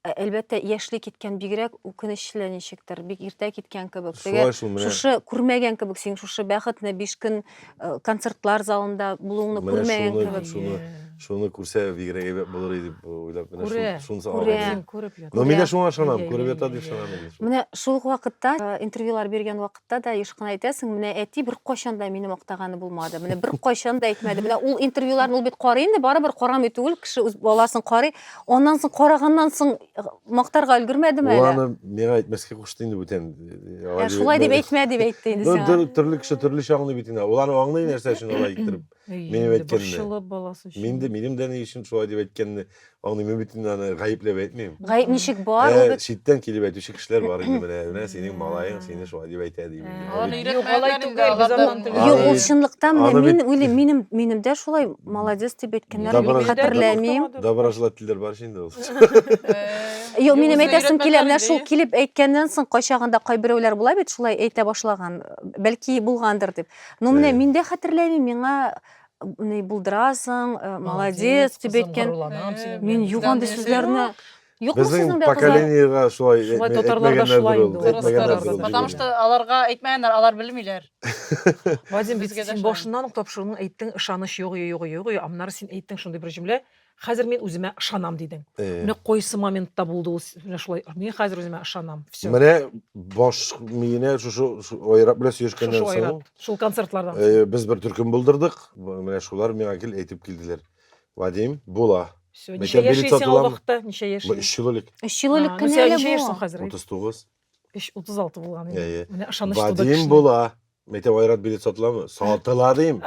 C: Ә, Әлбәттә, яшьли киткән бигрәк үкенечле ничектер, бик иртә киткән кебек. Теге Шулай шул, менә, шушы күрмәгән кебек, син шушы бәхетне биш көн э, концертлар залында булуыңны менә күрмәгән шуны, кебек. шуны, шуны күрсә
A: бигрәк әйбәт булыр иде дип уйлап, менә Күрә. шун- шунысы Күрә. алган.
D: Үзен күреп
A: ята. Но мин дә
D: шуңа ышанам, Иә, күреп
A: иә, ята иә, дип иә. ышанам. Менә шул ук вакытта
C: э, интервьюлар биргән вакытта вакытта да еш кына әйтәсең, менә әти беркайчан да мине мактаганы булмады. Менә беркайчан да әйтмәде. Менә ул интервьюларны ул бит карый инде, барыбер карамый түгел, кеше үз баласын карый. Аннан соң караганнан соң э, мактарга өлгермәдеме Ул әле? аны миңа әйтмәскә
A: кушты инде бүтән. Ә, шулай дип
C: әйтмә дип әйтте инде сиңа. Төрле кеше төрлечә аңлый
A: бит инде. Ул аны аңлый нәрсә өчен алай иттереп. Әй, Минем инде әйткәнне. борчылып баласы өчен. Мин дә,
D: минем дә ни өчен шулай
A: дип әйткәнне аңлыйм. Мин бит инде аны гаепләп әйтмим. Гаеп ничек бар, ул Ә,
C: бит читтән килеп әйтүче кешеләр
A: бар инде менә, менә синең малаең сине шулай дип әйтә дип. инде. Аны Аны Юк, алай өйрәтмәгән инде
E: түгел, без алардан. аннан түгел. Юк, Аны ул бит-
C: чынлыктан менә аны мин бит- уйлыйм, минем минем дә шулай молодец дип әйткәннәр Добро- мин хәтерләмим. Доброжелательләр бар
A: шул инде ул. Э,
C: Юк, минем үзенә әйтәсем килә, менә өйрәтмәгән шул инде. килеп әйткәннән соң кайчагында кайберәүләр була бит шулай әйтә башлаган, бәлки булгандыр дип. Ну, менә мин дә хәтерләмим, миңа ни булдырасың, э, молодец дип әйткән. Мин юк андый сүзләрне Юкмы сезнең Безнең дә кызлар? поколениега шулай
A: э, Шулай татарларда шулай
D: инде ул. Татарларда. Потому что аларга
E: әйтмәгәннәр, алар белмиләр. Вадим,
B: бит Безгә дә син шулай. башыннан ук тапшыруның әйттең, ышаныч юк, юк, юк, юк, аннары син әйттең шундый бер җөмлә, Хәзер мин үземә ышанам дидең. Э. Менә кайсы моментта булды ул менә шулай. Мин хәзер үземә ышанам. Все. Менә баш
A: миенә шушы айрат белән сөешкәннән соң. Айрат. Шул концертлардан. Э,
B: без бер төркем
A: булдырдык. Менә шулар миңа кил әйтеп килделәр. Вадим, була. Все. Ничә яшисең
B: ул вакытта? Ничә яшисең? 3 ел элек. 3 ел
A: элек кенә әле бу.
C: Ничә яшисең хәзер?
B: 39.
A: Эш 36
B: булган инде. Әйе. Менә ышаныч туды Вадим кешенең. була. Мәктәп
A: айрат билет сатыламы? Сатыла дим.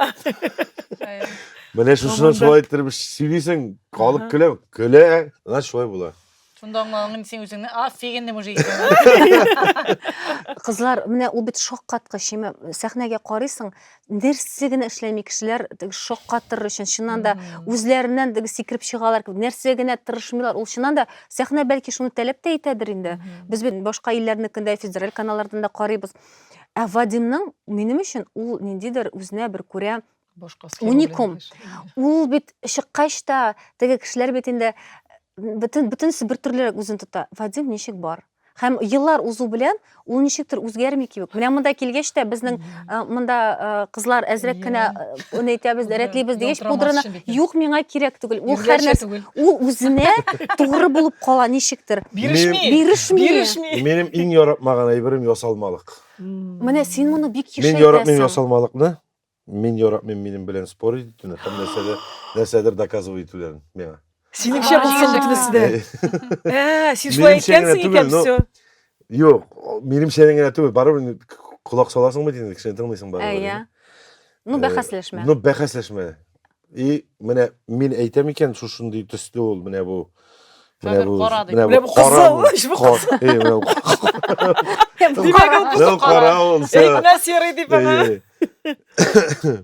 A: Әйе. Менә шушыны Заманда. шулай иттереп сөйлисең, халык Ага. көлә, көлә. Значит, шулай була. Шунда
E: аңлаган инде син үзеңне офигенный мужик икәнен.
C: Кызлар, менә ул бит шаккаткыч. Ме- Сәхнәгә карыйсың, нәрсә генә эшләми кешеләр шаккатыр өчен чыннан да үзләреннән сикереп чыгалар нәрсә генә тырышмыйлар ул чыннан да сәхнә бәлки шуны таләп тә итәдер инде без бит башка илләрнекендә федераль каналлардан да карыйбыз ә вадимның минем өчен ул ниндидер үзенә бер күрә уникум ул бит чыккач та теге кешеләр бит инде бөтен бөтенесе бер төрлерәк үзен тота вадим ничек бар Һәм еллар узу белән ул ничектер үзгәрми кебек. Менә монда килгәч тә безнең э, монда э, кызлар әзрәк кенә э, уны әйтәбез, рәтлибез дигәч, пудраны юк, миңа кирәк түгел. Ул һәр нәрсә ул үзенә тугры булып кала ничектер. Бирешми. Бирешми. Бирешми. Минем иң
A: яратмаган әйберем ясалмалык. Менә син
C: моны бик еш әйтәсең. Мин яратмыйм
A: ясалмалыкны. Мин яратмыйм минем белән спорить итүне һәм нәрсәдер, нәрсәдер доказывать итүләрен миңа. Синеңчә булсын
B: бөтенесе дә. Ә, син шулай Минемчә генә әйткәнсең түгел, икән, но- все. Юк,
A: о, минемчә генә түгел, барыбер ни- к- к- колак саласың бит инде, кешене тыңлыйсың барыбер. Әйе. Ну,
C: бәхәсләшмә. Ну, бәхәсләшмә.
A: И, менә мин әйтәм икән, шушындый төсле ул, менә бу. Менә бу, кара
E: дип. Менә бу кара. Менә бу кара. Димәк,
A: ул кызыл кара. Әйтмә серый дип
B: аңа.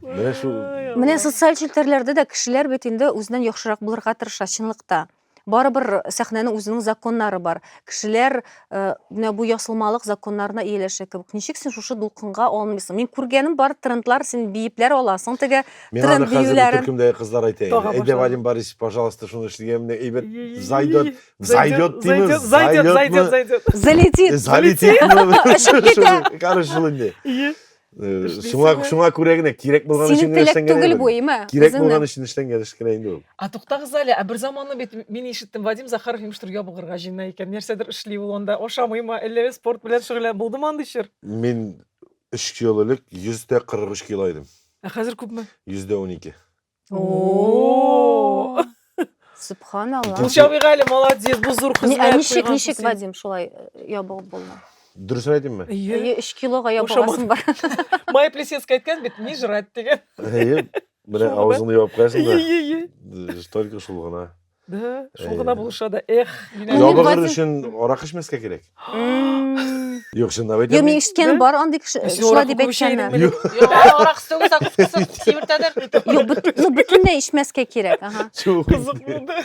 A: Менә шу. Менә социаль
C: челтәрләрдә дә кешеләр бит инде үзеннән яхшырак булырга тырыша, чынлыкта. Барыбер сәхнәнең үзенең законнары бар. Кешеләр э, менә бу ясылмалык законнарына ияләшә кебек. Ничек син шушы дулкынга алмыйсың? Мин күргәнем бар трендлар, син биепләр аласың теге Миңа аны тренд хәзер биюләрен. төркемдәге кызлар әйтә инде. Тага
A: Әйдә, башлады. Вадим Борис, пожалуйста, шуны эшлигән менә әйбәт зайдет, зайдет димез, Зайдет, зайдет, зайдетме, зайдет. Залетит. залетитме? Очып китә. Шуны, Короче, шуны инде. Ие. Шуңа шуңа күрә генә кирәк булган өчен генә эшләнгән. Синең теләк түгел бу, име? Кирәк
C: булган өчен эшләнгән
A: эш кенә инде ул. А туктагыз әле, ә бер
B: заманы бит мин ишеттем, Вадим Захаров имештер ябыгырга җыена икән. Нәрсәдер эшли ул анда, ашамыймы, әллә спорт белән шөгыльләнә, булдымы андый чор? Мин
A: 3 ел элек 143 кило идем. Ә хәзер күпме?
B: 112.
A: О!
B: Субханалла.
C: Гүлча Бигали
B: молодец, бу зур хезмәт. Ә ничек, ничек Вадим шулай
C: э, ябыгып булмый? Дөресен әйтимме?
A: Әйе, 3 килога
C: ябыгасың бар. Моя плесецкая
B: әйткән бит, не жрать дигән. Әйе, менә
A: авызыңны ябып куясың да. Әйе, әйе. Э, только шул гына. Да, шул гына
B: булыша да, эх. Ябыгыр өчен
A: арак эчмәскә кирәк. Юк, чынлап әйтәм. Юк, мин ишеткәнем бар андый
C: кеше, шулай дип әйткәннәр. Юк, арак
E: сыгы закускасын сибертәдер. Юк, ну бөтенләй
C: ишмәскә кирәк, ага. Кызык булды.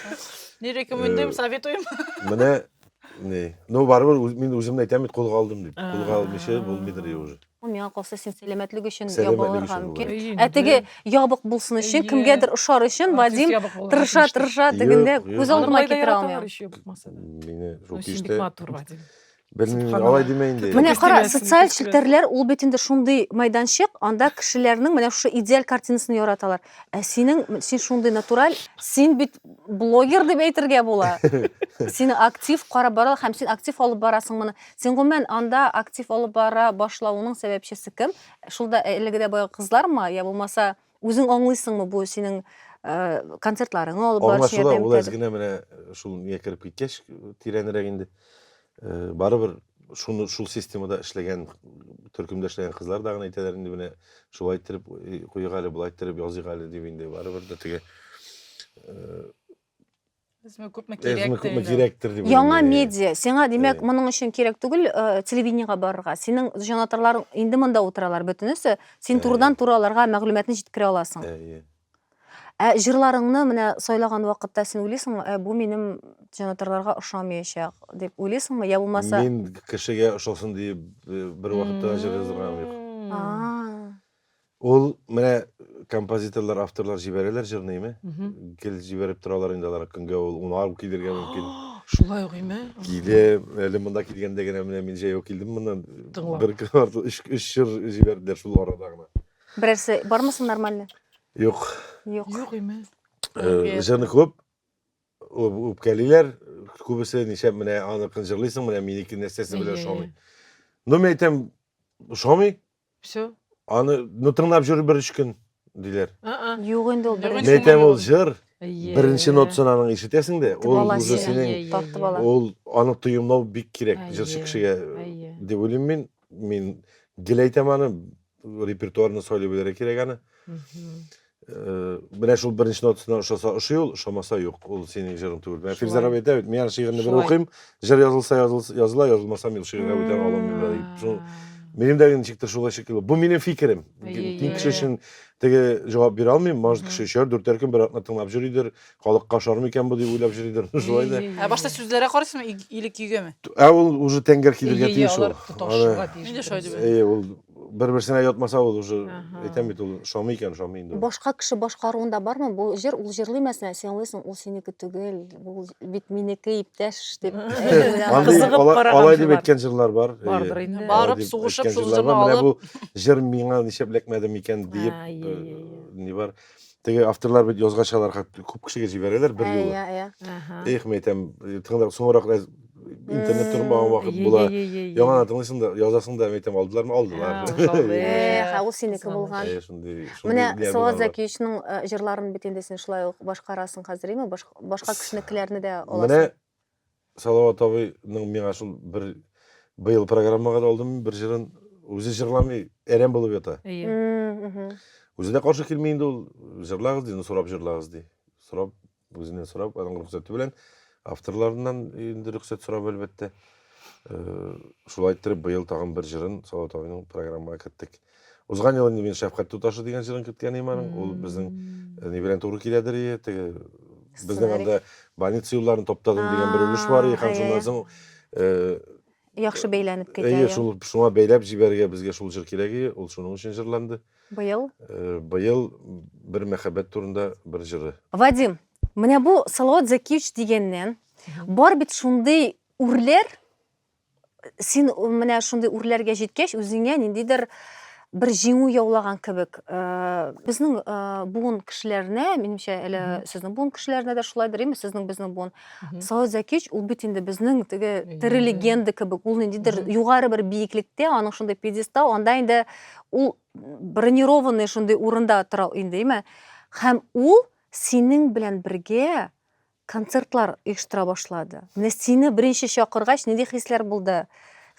B: Не рекомендуем,
E: советуем. Менә
A: не. Ну, барыбер мин үземне әйтәм бит, кулга алдым дип. Кулга алмыйча булмыйдыр уже. Ул миңа калса син
C: сәламәтлек өчен Сәламәтлек ябылырга өчен мөмкин. болай. Әйе, Ә инде. теге ябык булсын өчен, Әйе. кемгәдер ошар өчен Артист Вадим ябык булырга тырыша тиеш. тырыша Юк, тегендә юк. күз Аны алдыма болай да китерә яраталар алмыйм. еще булмаса да. Мине Ну,
A: шул син бик киштә матур, Вадим. Бер Субханалла. алай димә инде. Менә Күз кара, тимәсен, социаль күз
C: тимәсен. челтәрләр ул бит инде шундый мәйданчык, анда кешеләрнең менә шушы идеаль картинасын яраталар. Ә синең син шундый натураль, син бит блогер дип әйтергә була. Сине актив карап баралар һәм син актив алып барасың моны. Син гомумән анда актив алып бара башлавыңның сәбәпчесе кем? Шул да элегедә баягы кызлармы, я булмаса үзең аңлыйсыңмы бу синең концертларыңны алып барып сиңа Аңлашыла, ул әз генә менә
A: шул миңа кереп киткәч тирәнрәк инде. Барыбер шуны шул системада эшләгән, төркемдә эшләгән кызлар да гына әйтәләр инде менә шулай иттереп куйыйк әле, болай иттереп языйк әле дип инде барыбер дә теге
E: Безме күпме кирәк? Безме күпме кирәктер
A: дип. Яңа медиа. Сиңа
C: димәк, моның өчен кирәк түгел, э, телевидениегә барырга. Синең җанатарларың инде монда утыралар бөтенесе. Син э. турыдан туры аларга мәгълүматны җиткерә аласың. Э, ә җырларыңны менә сайлаган вакытта син уйлыйсыңмы, ә бу минем җанатарларга ошамаячак дип уйлыйсыңмы? Я булмаса Мин кешегә
A: ошасын дип бер вакытта җыр язган юк. Ул менә композиторлар, авторлар җибәрәләр җырныйме? Гел җибәреп торалар инде алар көнгә ул унар килергә мөмкин. Шулай уйме?
B: Киле, әле
A: монда килгәндә генә менә мин җәяү килдем моннан. Бер кварт өч өч җыр җибәрделәр шул арада гына. Берәрсе бармы
C: соң нормально? Юк. Юк.
A: Юк
B: име? Җырны
A: күп үпкәлиләр, күбесе ничә менә аныкын җырлыйсың, менә минеке нәрсәсе белән ошамый. Ну, мен әйтәм, ошамый, Все.
B: Аны ну
A: тыңлап җөр бер өч көн диләр. Юк инде ул
C: беренче. Мин әйтәм ул җыр
A: беренче нотасын аның ишетәсең дә, ул уже синең ул аны тоемлау бик кирәк җырчы кешегә дип уйлыйм мин. Мин гел әйтәм аны, репертуарны сайлый белергә кирәк аны. Э, менә шул беренче нотасына ошаса ошый ул ошамаса юк ул синең җырың түгел менә фирза раби әйтә бит мин аны шигырьне бер укыйм җыр язылса языла язылмаса мин шигырьгә бүтән аламыйм дип шул минем дә ничектер шулай шикелле бу минем фикерем киң кеше өчен теге җавап бирә алмыйм может кеше өчәр дүртәр көн бер атна тыңлап йөридер Халыкка ошар микән бу дип уйлап йөридер. Шулай да. Ә башта сүзләргә карыйсыңмы
E: иг- или көйгәме? Ә ул уже тәңгәл
A: килергә Әйе, тиеш ул. алар тоташырга Аны- тиеш. Мин дә шулай
E: дип бөтенесе. Әйе, ул бер-берсенә
A: ятмаса ул уже Аһа. әйтәм бит ул шамый икән, шамый инде. ул. Башка кеше башкаруында
C: бармы бу җыр? Ул җырлый мәсәлән, син аңлыйсың, ул синеке түгел, бу бит минеке, иптәш дип. Андый Кызыгып алай- караган алай дип
A: җырлар. әйткән җырлар бар. әйе. Бардыр инде. Алай Барып,
B: дип сугышып, әйткән шул җырлар
E: җырны бар. Менә алып. бу җыр
A: миңа нишләп эләкмәде микән диеп, Ә, э, ие, ие, ие. ни бар. Теге авторлар бит язгач алар хат күп кешегә җибәрәләр бер юлы. Иә, иә. Аһа. Эх, мен әйтәм, тыңлап соңрак да интернет тормаган вакыт Е, була. е, е, е, е. Яңадан тыңлыйсың да, язасың да, мен әйтәм, алдылармы, алдылар. Ә, алдылар. Э, хә,
C: ул синеке Золош. булган. Әйе, шундый. Менә шундый ниләр Салават булган алар. Зәкиевичның э, җырларын бит инде син шулай ук башкарасың хәзер, име? Башка, башка кешенекеләрне дә Менә аласың.
A: Салават абыйның миңа шул бер быел программага да алдым бер җырын үзе җырламый, әрәм булып ята. Әйе. Үзе дә каршы килми инде ул, җырлагыз ди, ну сорап җырлагыз ди. Сорап, үзеннән сорап, аның рөхсәте белән авторларыннан инде рөхсәт сорап әлбәттә. Э, шулай иттереп быел тагын бер җырын Салават абыйның программага керттек. Узган елы мин Шәфкать туташы дигән җырын керткән идем аның. Ул безнең э, ни белән туры киләдер ие, теге безнең анда больница юлларын таптадым дигән бер өлеш бар ие, һәм шуннан соң э, Яхшы
C: бәйләнеп китә. Әйе, шул шуңа бәйләп
A: җибәрергә безгә шул җыр кирәк ие, ул шуның өчен җырланды. Быел? Э,
C: быел
A: бер мәхәббәт турында бер җыры. Вадим,
C: менә бу Салават Закиевич дигәннән, бар бит шундый үрләр, син менә шундый үрләргә җиткәч, үзеңә ниндидер бер җиңү яулаган кебек. Э, безнең э, буын кешеләренә, минемчә, әле сезнең буын кешеләренә дә шулайдыр, имеш, сезнең безнең буын. Саат Зәкич ул бит инде безнең теге тере легенда кебек, ул ниндидер югары бер биеклектә, аның шундый пьедестал, анда инде ул бронированный шундый урында тора инде, име? Һәм ул синең белән бергә концертлар оештыра башлады. Менә сине беренче чакыргач, нинди хисләр булды?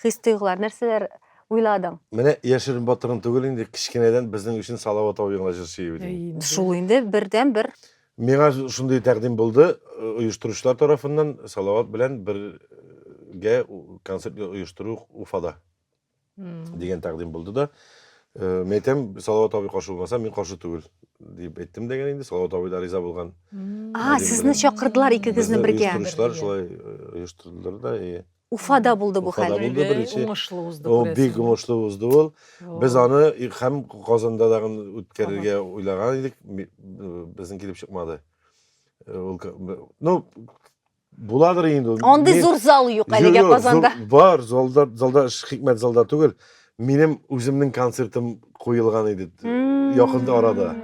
C: Хис-тойгылар, нәрсәләр уйладың? Менә яшерен
A: батырын түгел инде, кечкенәдән безнең өчен Салават абый гына җырчы иде бит инде. Шул инде бердәнбер.
C: Миңа
A: шундый тәкъдим булды, оештыручылар тарафыннан Салават белән бергә концерт оештыру Уфада. дигән тәкъдим булды да э, мен әйтәм салават абый каршы булмаса мин каршы түгел дип әйттем дигән инде салават абый да риза булган а сезне
C: чакырдылар икегезне бергә оештыручылар шулай
A: э, оештырдылар да и уфада булды бу
C: хәл булды беренче уңышлы узды
B: ул бик уңышлы
A: узды ул без аны һәм казанда да үткәрергә уйлаган идек безнең килеп чыкмады э, ул ну Буладыр инде ул. Андый зур зал юк
C: әлегә Казанда. Бар, залда,
A: залда эш хикмәт залда түгел. Минем үземнең концертым куелган иде якында арада.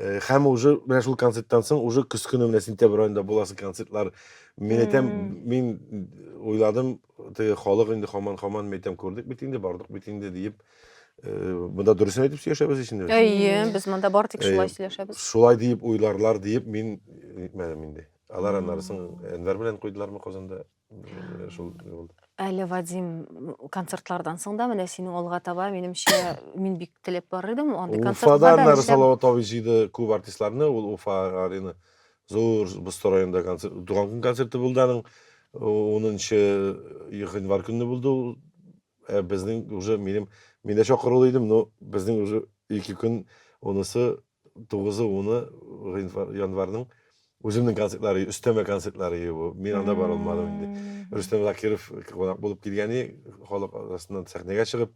A: Э, һәм уже менә шул концерттан соң уже көз көне менә сентябрь аенда буласы концертлар мин әйтәм мин уйладым теге халык инде хаман хаман мен әйтәм күрдек бит инде бардык бит инде диеп э, монда дөресен әйтеп сөйләшәбез ичендә әйе без монда
C: бардык э, шулай сөйләшәбез шулай диеп уйларлар
A: диеп мин әйтмәдем инде Алар аннары соң Әнвәр белән куйдылармы Казанда? Шул булды. Әле Вадим
C: концертлардан соң да менә синең алга таба, минемчә, мин бик теләп бар идем. Андый концертка Уфада да аннары Салават абый җыйды
A: күп артистларны, ул Уфа арена зур Бусто районында концерт, туган көн концерты булды аның. 10 январь көнне булды ул. Ә безнең уже минем мин дә чакырулы идем, но безнең уже ике көн онысы 9-10 гыйнвар, январның үземнең концертлары, өстәмә концертлары бу. Мин анда бара алмадым инде. Рөстәм Закиров кунак булып килгәне, халык арасыннан сәхнәгә чыгып,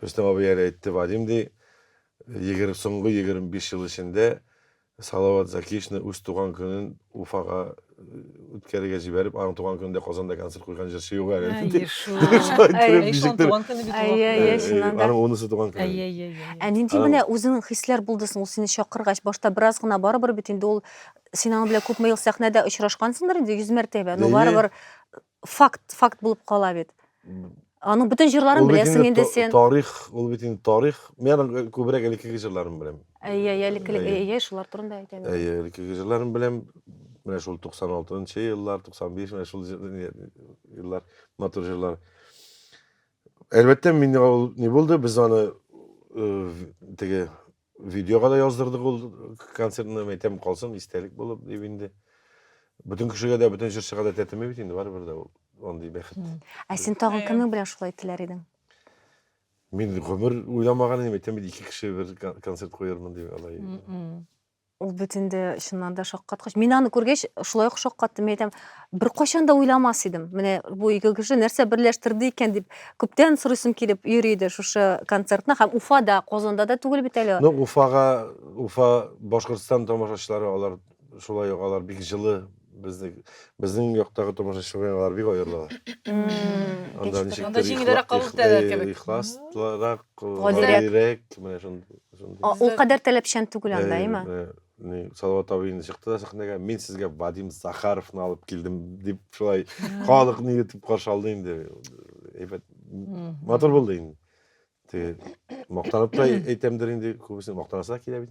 A: Рөстәм абый әле әйтте, Вадим ди, 20 соңгы 25 ел эчендә Салават Закишны үз туган көнен Уфага үткәрергә җибәреп, аның туган көнендә Казанда концерт куйган җырчы юк әле. Әйе шул. Әйе шул туган көне бит. Әйе, әйе, чыннан да. Аның унысы туган көне. Әйе, әйе, әйе. Ә нинди менә
C: үзеңнең хисләр булды соң ул сине чакыргач? Башта бераз гына барыбер бит инде ул син аның белән күпме ел сәхнәдә очрашкансыңдыр инде 100 мәртәбә. Ну барыбер факт, факт булып кала бит. Аның бөтен җырларын беләсең инде сен. Тарих, ул бит инде
A: тарих. Мин аның күбрәк элеккеге җырларын беләм. Әйе, элеккеге, әйе,
C: шулар турында әйтәм. Әйе, элеккеге җырларын
A: беләм. Менә шул 96 еллар, 95, менә шул еллар, матур җырлар. Әлбәттә, мин ул не булды, без аны теге Видеога да яздырдык ул концертны, мәйтәм калсын, истәлек булып дип инде. Бөтен кешегә дә, бөтен җырчыга да тәтеми бит инде, барыбер дә ул андый бәхет. Ә син тагын
C: кемнең белән шулай теләр идең?
A: Мин гомер уйламаган идем, әйтәм бит, ике кеше бер концерт куярмын дип алай. Ул
C: бит инде чыннан да шаккаткыч. Мин аны күргәч, шулай ук шаккаттым, әйтәм, беркайчан да уйламас идем менә бу ике кеше нәрсә берләштерде икән дип күптән сорыйсым килеп йөри иде шушы концертны һәм уфада казанда да түгел бит әле ну уфага уфа
A: башкортстан тамашачылары алар шулай ук алар бик жылы безнең безнең яктагы тамашачылар белән алар бик аерыла анда
E: ничектер җиңелрәк кабул итәләр кебек ихласрак
A: гадирәк
C: менә
A: шундый ул кадәр
C: таләпчән түгел анда әйме Салават
A: абый инде чыкты да сәхнәгә, мин сезгә Вадим Захаровны алып килдем дип шулай халык ни итеп каршы алды инде. Әйбәт матур булды инде. Теге мактанып та әйтәмдер инде, күбесе мактанасы да килә бит.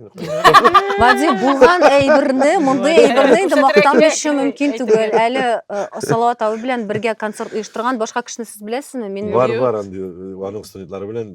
A: Вадим
C: булган әйберне, мондый әйберне инде мактанышы мөмкин түгел. Әле э, Салават абый белән бергә концерт оештырган башка кешене сез беләсезме? Мин Бар, бар, андый,
A: аның студентлары белән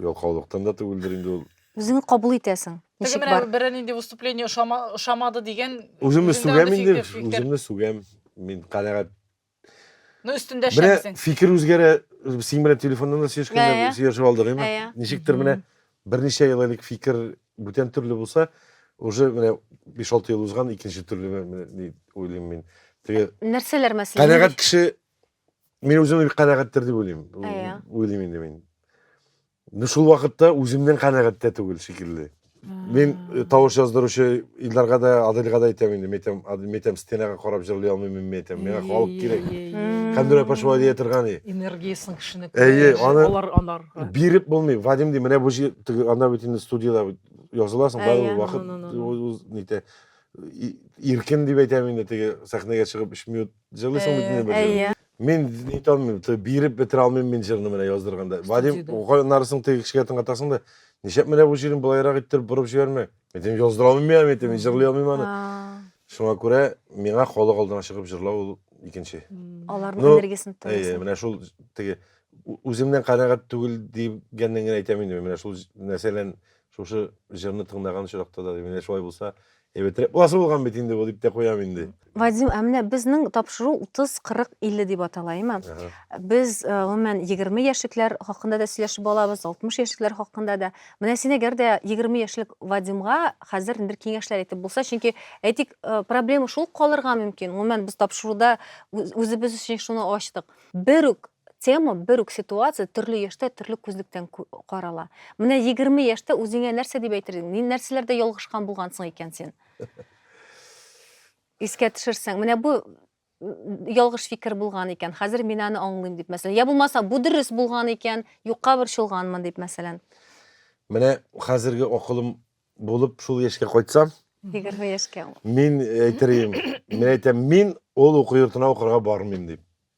A: Ялкаулыктан да түгелдер инде ул. Үзеңне кабул итәсең.
C: Теге Ничек менә бар? берәр
E: нинди
C: выступление
E: ошама, ошамады дигән. Үземне үзеңдә сүгәм андый инде,
A: фикер- фикер. үземне сүгәм. Мин канәгать. Ну,
E: өстендә Менә эшләмисең. фикер
A: үзгәрә. Син белән телефоннан да Ә, сөйләшкәндә ә. сөйләшеп алдык, әйме? Ә, ә. Ничектер менә берничә ел элек фикер бүтән төрле булса, уже менә 5-6 ел узган, икенче төрле менә ни уйлыйм мин. Теге Нәрсәләр мәсәлән?
C: канәгать кеше
A: мин үзем бик канәгатьтер дип уйлыйм. Әйе. Уйлыйм инде
C: мин.
A: Ну шул вакытта үземнән канәгать тә түгел шикелле. Мин э, тавыш яздыручы Илдарга да, Адилга да әйтәм инде, мәйтәм, Адил, мәйтәм, стенага карап җырлый алмыйм мин мәйтәм. Миңа халык кирәк. Кемдер апа шулай дия торган и. Энергиясен кешене
B: Әйе, аны-
A: алар алар. Биреп
B: булмый.
A: Вадим ди, менә бу җыр теге анда бит инде студияда бит языласың, Әйе, барлык вакыт ну, ну, ну, ну. үз- үз нитә. И- Иркен дип әйтәм инде теге сәхнәгә чыгып 3 минут Җырлыйсың бит инде бер җыр. Әйе. Мин
C: ни итә
A: алмыйм, то биреп бетерә алмыйм мин җырны менә яздырганда. Вадим, җыйды? ука нарысың теге кешегә тыңлатасың да, нишләп менә бу җырын болайрак иттереп борып җибәрмә? Мин әйтәм, яздыра алмыйм мин, мин әйтәм, мин җырлый алмыйм аны. А, Шуңа күрә миңа халык алдына чыгып җырлау ул икенче. Аларның Ну,
C: энергиясен Әйе, тыңлыйсың. менә шул
A: теге ү- үземнән канәгать түгел дигәннән генә әйтәм инде, мин менә шул җ- нәрсәлән шушы җырны тыңлаган очракта да, менә шулай булса, Әйбәт репласы булган бит инде бу, дип тә куям инде. Вадим, ә менә
C: безнең тапшыру 30, 40, 50 дип атала, әйме? Без э, гомумән 20 яшьлекләр хакында да сөйләшеп алабыз, 60 яшьлекләр хакында да. Менә син әгәр дә 20 яшьлек Вадимга хәзер бер киңәшләр әйтеп булса, чөнки әйтик, э, проблема шул калырга мөмкин. Гомумән без тапшыруда үзебез өчен шуны ачтык. Бер үк Тема, бер үк ситуация төрле яшьтә төрле күзлектән карала. Менә 20 яшьтә үзеңә нәрсә дип әйтер идең? Ни нәрсәләрдә ялгышкан булгансың икән син? Искә төшерсәң, менә бу ялгыш фикер булган икән, хәзер мин аны аңлыйм дип, мәсәлән. Я булмаса, бу дөрес булган икән, юкка борчылганмын дип, мәсәлән. Менә
A: хәзерге акылым булып шул яшькә кайтсам, 20 яшькә.
C: Мин әйтер
A: идем, мин әйтәм, мин ул уку йортына укырга бармыйм дип.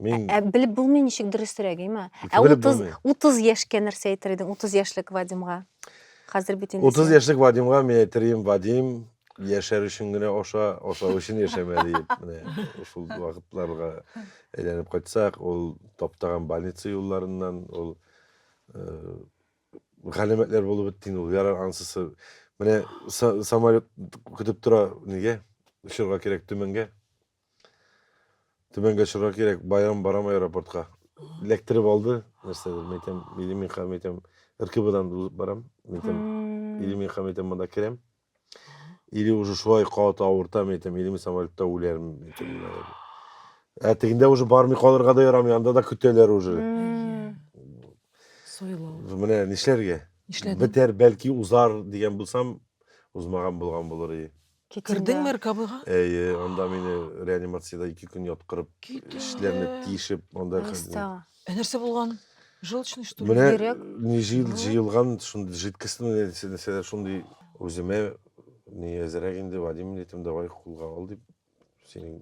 A: Мин... Ә, ә белеп булмый
C: ничек дөресрәк, әйме? Ә 30, 30 яшькә нәрсә әйтер идең? 30 яшьлек Вадимга. Хәзер бит инде 30 яшьлек Вадимга мин
A: әйтер идем, Вадим, яшәр өчен генә аша, ашау өчен яшәмә диеп, менә шул вакытларга әйләнеп кайтсак, ул таптаган больница юлларыннан, ул э, галәмәтләр булып бетте инде ул, ярар ансысы. Менә самолет көтеп тора, нигә? Очырга кирәк Төмәнгә. Түбәнгә чыгарга кирәк, Байрам барамы аэропортка? Эләктереп алды, нәрсәдер, мин әйтәм, или мин хәм әйтәм, РКБдан узып барам, мин әйтәм, или мин хәм әйтәм, монда керәм, или уже шулай кат авыртам, мин әйтәм, или мин самолетта үләрем, мин әйтәм, наверное. Ә тегендә уже бармый калырга да ярамый, анда да көтәләр уже. Сойлау. Менә нишләргә? Нишләдең? Бетәр, бәлки узар дигән булсам, узмаган булган булыр и. Китим Кердең дә. Мәркабыйга?
B: Әйе, анда мине
A: реанимациядә ике көн яткырып, Китү эчләрне дә. тишеп, анда Нәрсә? Ә нәрсә
B: булган? Желчный что ли? Менә Бигрәк. ни җыел,
A: Бу- җыелган шундый жидкостьны нәрсә- нәрсәләр шундый үземә ни әзрәк инде, Вадим, әйтәм, давай кулга ал, дип, синең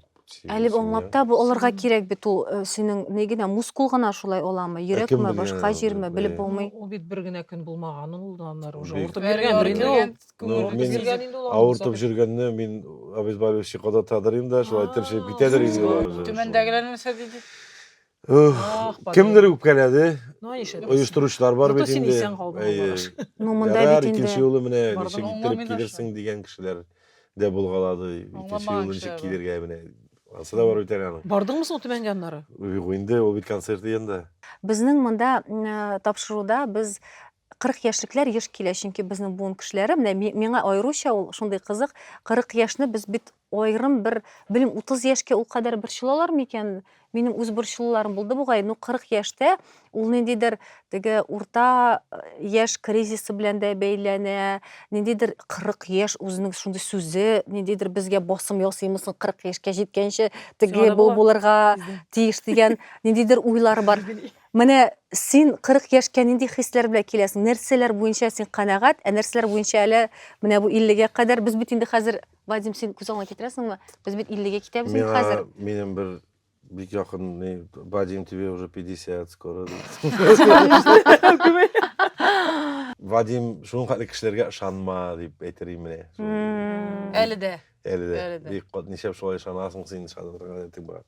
A: Әле аңлап
C: та бу алырга кирәк бит ул э, синең ни генә мускул гына шулай аламы, э, йөрәкме, башка җирме белеп булмый. Ул бит бер генә көн
B: булмаган ул да аннары уже Бик. авыртып йөргәндер инде ул. Күңелебез йөргән инде ул аның
A: Авыртып җөргәнне мин обезболивающий кадатадыр инде, шулай тыршып китәдер инде. Түмәндәгеләр
E: нәрсә диде? Ах, падай.
A: Кемдер үпкәләде. Ну, ничек дисең?
B: Оештыручылар бар бит Зато
A: син инде. исән калдың, Әйе. Алмагаш.
B: Ну, монда Ярар, бит инде-
A: икенче юлы менә Бардым, ничек аңламый иттереп да килерсең шул. дигән кешеләр дә булгалады. Икенче Аңламаган юлы ничек кешеләр бар. килергә менә. Ансы да бар бит әле аның. Бардыңмы соң Түбәнгә аннары?
B: Юк, инде ул бит
A: концерт янында. Безнең монда
C: м, э, тапшыруда без 40 яшьлекләр еш килә, чөнки безнең буын кешеләре, менә миңа аеруча ул шундый кызык, 40 яшьне без бит аерым бер, белмим, 30 яшькә ул кадәр борчылалар микән? Минем үз борчылуларым булды бугай, ну 40 яшьтә ул ниндидер теге урта э, яшь кризисы белән дә бәйләнә, ниндидер 40 яшь үзенең шундый сүзе, ниндидер безгә басым ясыймысың 40 яшькә җиткәнче теге бу булырга тиеш дигән ниндидер уйлар бар. Менә син 40 яшькә нинди хисләр белән киләсең? Нәрсәләр буенча син канәгать, ә нәрсәләр буенча әле менә бу 50 гә кадәр без бит инде хәзер, Вадим, син күз алдыңа китерәсеңме? Без бит 50 гә китәбез инде хәзер. Миңа минем бер
A: бик якын ни, Вадим, тебе уже 50, скоро. Вадим, шуның хәтле кешеләргә ышанма дип әйтер идем менә. Әле
E: дә. Әле дә. Әле дә. Бик
A: кат ничәп шулай ышанасың син, ышанырга ниятлек бар.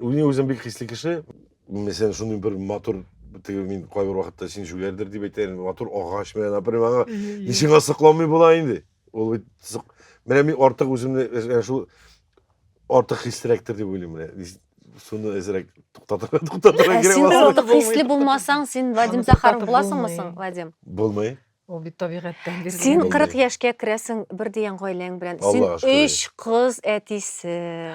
A: Мин үзем бик хисле кеше. Мәсәлән, шундый бер матур теге мин кайбер вакытта син шүгәрдер дип әйтәм, матур агач менә, например, аңа ничек сокланмый була инде. Ул бит менә мин артык үземне э, шул артык хислерәктер дип уйлыйм менә. Суны әзрәк туктатырга туктатырга кирәк. Син артык
C: хисле булмасаң, син Вадим Захаров буласыңмы соң, Вадим? Булмый. Ул
A: бит табигатьтән
B: бирелгән. Син Мондый. 40 яшькә
C: керәсең бер дигән гаиләң белән. Син Аллага шөкер. өч кыз әтисе.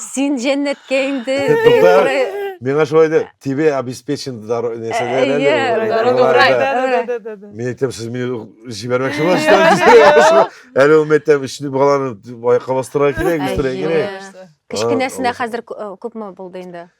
C: Син җәннәткә инде. Әйе, тукта. Бер- Миңа шулай да
A: тебе обеспечен дару- нәрсә дә әле, Әйе, Нурай, дару- Нурай, Нурай, да. да, да, да, да, да. Мин әйтәм, сез мине җибәрмәкче буласыздар. Әле ул мәктәп өчен баланы аякка бастырырга кирәк, Әйе. үстерә кирәк. Кечкенәсенә А,
C: хәзер кү- э, күпме булды инде?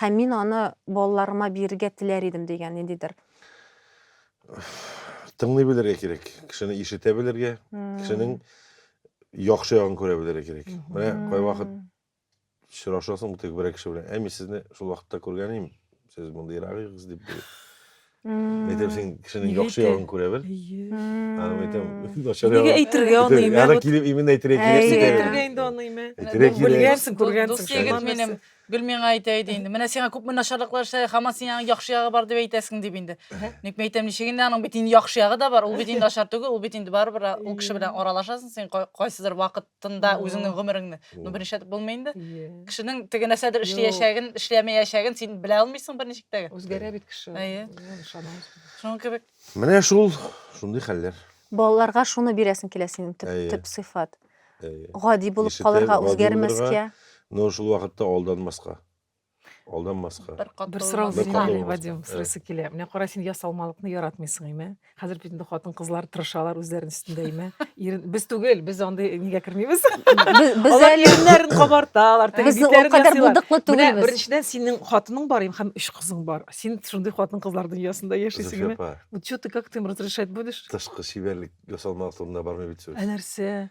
C: Һәм мин аны балаларыма бирергә теләр идем, дигән ниндидер.
A: Тыңлый белергә кирәк. Кешене ишетә белергә, кешенең яхшы ягын күрә белергә кирәк. Менә кайвакыт очрашасың теге берәр кеше белән. Ә мин сезне шул вакытта күргән идем. Сез мондыйрак идегез дип. Мм. Әйтәм, син кешенең Нигә яхшы әйтә? ягын күрә бел. Әйе. Мм. Анам әйтәм, начар Нигә ягын. әйтергә
B: аны Әйтәм, имә? Аны килеп именно
A: әйтергә Әйе. кирәк. Нигә
B: әйтә.
E: әйтергә
A: инде аны имә? Әйтергә
B: Дус- кирәк.
A: Белгәнсең, күргәнсең. Дус
B: шул егет егет
E: нәрсә.
A: минем.
E: Гел миңа әйтә иде инде. Менә сиңа күпме начарлыклар эшләде, һаман син аның яхшы ягы бар дип әйтәсең дип инде. Ник мин әйтәм, ничек инде аның бит инде яхшы ягы да бар. Ул бит инде начар түгел, ул бит инде барыбер ул кеше белән аралашасың син кай- кайсыдыр вакыт. тында үзеңнең гомереңне. Ну беренче итеп булмый инде. Кешенең теге нәрсәдер эшләячәген, эшләмәячәген син белә алмыйсың берничек тә. Үзгәрә бит кеше. Әйе. Шуның кебек. Менә шул
A: шундый хәлләр. Балаларга шуны
C: бирәсең килә синең төп төп сыйфат. Гади булып калырга, үзгәрмәскә. Но шул
A: вакытта алданмаска. Алданмаска.
B: Бер кат Бер сорау булмаска. бирим әле, Вадим, сорыйсы килә. Менә кара, син ясалмалыкны яратмыйсың, име? Хәзер бит инде хатын-кызлар тырышалар үзләрен өстендә, име? Ирен, без түгел, без андый нигә кермибез. Без Алар
C: әле иреннәрен
B: кабарталар, теге без ул битләрен кадәр ясыйлар.
C: булдыклы Менә түгелбез. беренчедән синең
B: хатының бар, им, һәм өч кызың бар. Син шундый хатын-кызлар дөньясында яшисең, Зөфия име? апа, Вот чё ты, как ты им разрешать будешь? тышкы чибәрлек
A: ясалмалык турында бармый бит сүз. Ә нәрсә?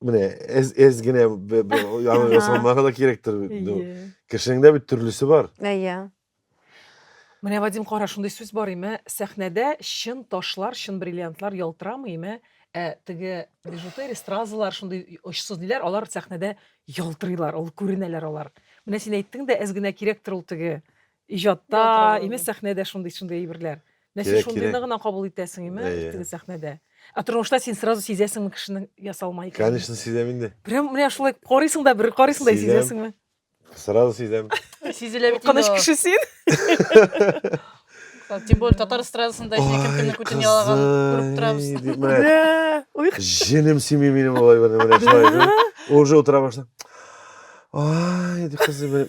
A: Менә әз, әз генә бе- бе- яны Ага. ясалмага да кирәктер. бит. Ну, Әйе. Кешенең дә бит төрлесе бар. Әйе.
B: Менә Вадим кара шундый сүз бар име, сәхнәдә чын ташлар, чын бриллиантлар ялтырамый име, ә теге бижутерия, стразалар шундый очсыз диләр, алар сәхнәдә ялтырыйлар, ул күренәләр алар. Менә син әйттең дә, әз генә кирәктер ул теге Иҗатта, имеш сәхнәдә шундый шундый әйберләр. Мәче шундыйны гына кабул итәсең, име, теге сәхнәдә. Ә тормышта син сразу сизәсеңме кешенең ясалма икәнен? Конечно, сизәм инде.
A: Прям менә шулай
B: карыйсың да, бер карыйсың да сизәсеңме? Сразу сизәм.
A: Сизелә бит. Кыныч
E: кеше син. Тем более татар эстрадасында син кем кемне күтен ялаган күреп торабыз. Да. Ой. Җенем
A: сими минем алай бер менә шулай. Уже утыра башлам. Ай, дип кызы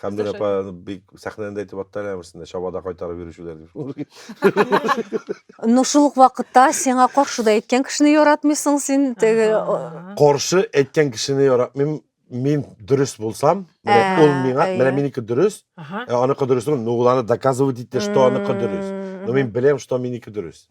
E: Хәмдүр апа
A: бик сәхнәдән дә әйтеп атты әле әмерсендә, чабада кайтарып йөрүчеләр дип. Ну шул
C: ук вакытта сиңа каршы да әйткән кешене яратмыйсың син теге. Каршы
A: әйткән кешене яратмыйм. Мин дөрес булсам, менә ул миңа, менә минеке дөрес, ә аныкы дөрес түгел, ну ул аны доказывать итте, что аныкы дөрес. Но мин беләм, что минеке дөрес.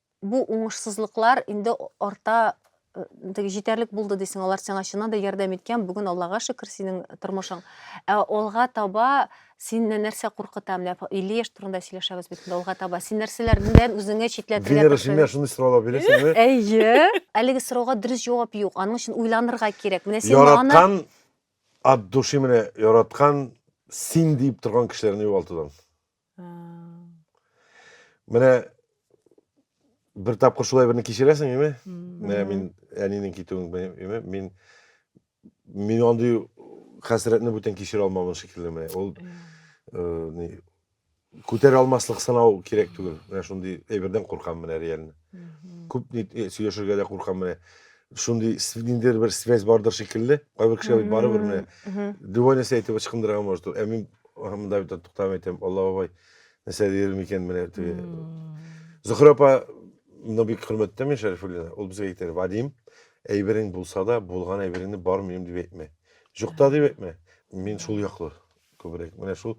C: Бу уңышсызлыклар инде арта теге җитәрлек булды дисең, алар сиңа чыннан да ярдәм иткән, бүген Аллага шөкер синең тормышың. Ә алга таба сине нәрсә куркыта? Менә 50 яшь турында сөйләшәбез бит инде алга таба. Син нәрсәләрдән үзеңә читләтергә Венера, син менә шундый сораулар
A: бирәсеңме? Әйе.
C: Әлеге сорауга дөрес җавап юк. Аның өчен уйланырга кирәк. Менә син аны Яраткан
A: от души менә яраткан син диеп торган кешеләрне югалтудан. Менә бер тапкыр шулай берне кичерәсең, име? Менә мин әнинең китүен беләм, мин мин андый хәсрәтне бүтән кичерә алмавым шикелле менә. Ул э, ни күтәрә алмаслык сынау кирәк түгел. Менә шундый әйбердән куркам менә реально. Күп ни э, сөйләшергә дә куркам менә. Шундый с- ниндидер бер связь бардыр шикелле. Кайбер кешеләр бит барыбер менә Мгм. любой нәрсә әйтеп ычкындырырга может. Ә мин аһ, монда бит туктам әйтәм, Алла бабай, нәрсә дияр микән менә теге. Зөһрә апа, мына бик хөрмәттәм мин Шәрифуллина. Ул безгә әйтер, Вадим, әйберең булса да, булган әйбереңне бар минем дип әйтмә. Юкта дип әйтмә. Мин шул яклы. Күбрәк. Менә шул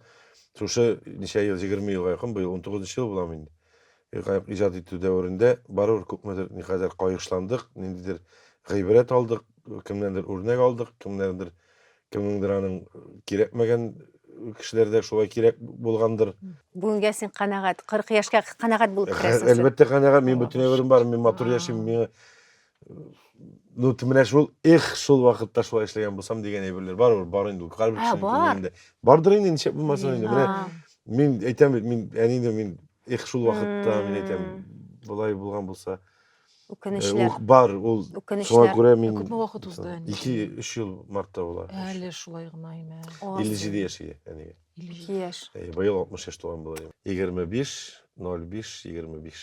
A: шушы ничә ел, 20 елга якын, быел 19 ел буламы инде. Каек иҗат итү дәверендә барыбер күпмедер никадәр кайгышландык, ниндидер гыйбрәт алдык, кемнәндер үрнәк алдык, кемнәрдер кемнеңдер аның кирәкмәгән кешеләрдә шулай кирәк булгандыр. Бүгенгә син
C: канәгать, 40 яшькә канәгать булып керәсең. Әлбәттә канәгать, мин бөтен
A: гомерем бар, мин матур яшим, миңа ну ты менә шул эх шул вакытта шулай эшләгән булсам дигән әйберләр бар ул бар инде ул һәрбер кешенең күңелендә бардыр инде ничек булмасын инде менә мин әйтәм бит мин әни дә мин эх шул вакытта мин әйтәм болай булган булса үкенечле
C: бар ул
A: шуңа күрә мин күпме вакыт узды
B: ике өч ел
A: мартта була әле шулай гына
B: имә илле җиде яшь ия
A: әнигә илле
C: яшь быел алтмыш яшь тулган
A: була егерме биш ноль биш егерме биш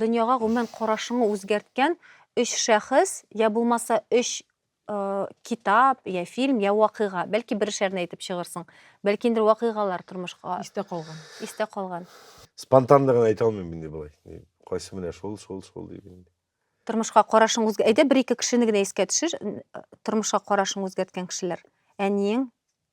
C: Дөньяга гомумән карашыңы үзгәрткән өч шәхес, йә булмаса өч китап, йә фильм, йә вакыйга. Бәлки берешәрне әйтеп чыгырсың. Бәлки инде вакыйгалар тормышка Истә калган. истә
B: калган.
C: Спонтанлыгын
A: әйтә алмыйм инде болай. Ни, Кайсы менә шул, шул, шул дип инде. Тормышка карашың
C: үзгә... Әйдә бер-ике кешене генә искә төшер, н- тормышка карашың үзгәрткән кешеләр. Әниең,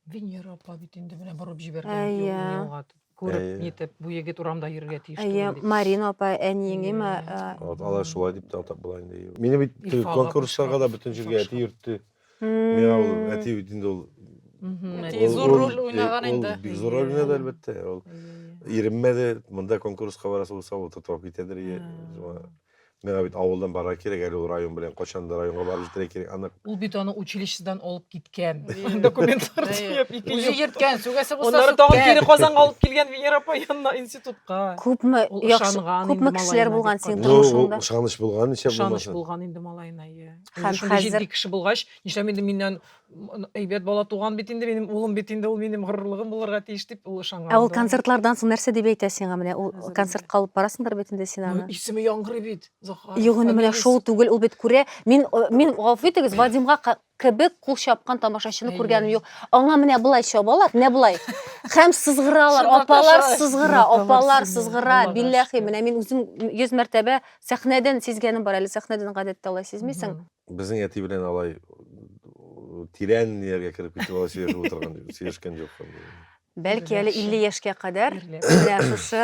C: Венера
B: апа бит инде менә борып җибәргән Әйе. юлны юлга
C: күреп Әйе.
B: нитеп, бу егет урамда йөрергә тиеш Әйе, түгел дип. Марина апа, әниең
C: има. Әйе. Вот, алар шулай
A: дип те атап була инде. Мине бит Илфа теге ага конкурсларга да кычкырып,
B: бөтен
A: җиргә әти кочкырып. йөртте. Миңа ул Мм. әти бит инде ул Мгм, Әти әти. зур ул-
E: роль уйнаган э, инде. Ул бик зур роль Әйе. уйнады,
A: әлбәттә. Ул Әйе, әйе. иремә дә монда конкурска барасы булса, ул тотып алып китәдер. Ә. Миңа бит авылдан барырга кирәк әле ул район белән. Качан да районга барып җитәргә кирәк, анык. Ул бит аны училищедан
B: алып киткән. Документлар төяп, ике Үзе ел. йөрткән,
E: сүгәсе булса Аннары тагын кире сүккән. Казанга
B: алып килгән Венера апа янына институтка. Күпме Ул яхшы,
C: ышанган күпме
B: инде кешеләр
C: малаена,
B: булган дип
C: синең карый.
B: Ну, ул
C: тормышыңда? ышаныч
B: булган,
C: ничә
A: Ышаныч булмасын. булган инде
B: малаена,
A: иә. Һәм
B: Шундый хәзер- җитди
C: кеше булгач, нишләп
B: инде миннән Әйбәт бала туган бит инде, минем улым бит инде, ул минем горурлыгым булырга тиеш дип ул ышанган. Ә ул концертлардан соң
C: нәрсә дип әйтә сиңа менә? Ул концертка алып барасыңдыр бит инде син аны. Исеме яңгырый бит.
B: Захар. Юк, инде менә шул
C: түгел, ул бит күрә. Мин э, мин гафу итегез, Вадимга кебек кул чапкан тамашачыны күргәнем юк. Аңа менә болай чабалар, менә болай. Һәм сызгыралар, апалар сызгыра, апалар сызгыра. Билләхи, менә мин үзем 100 мәртәбә сәхнәдән сизгәнем бар әле, сәхнәдән гадәттә алай сизмисең. Безнең әти белән
A: алай тирән ниләргә кереп китеп алай сөйләшеп утырган сөйләшкән юк. Бәлки
C: әле 50 яшькә кадәр менә шушы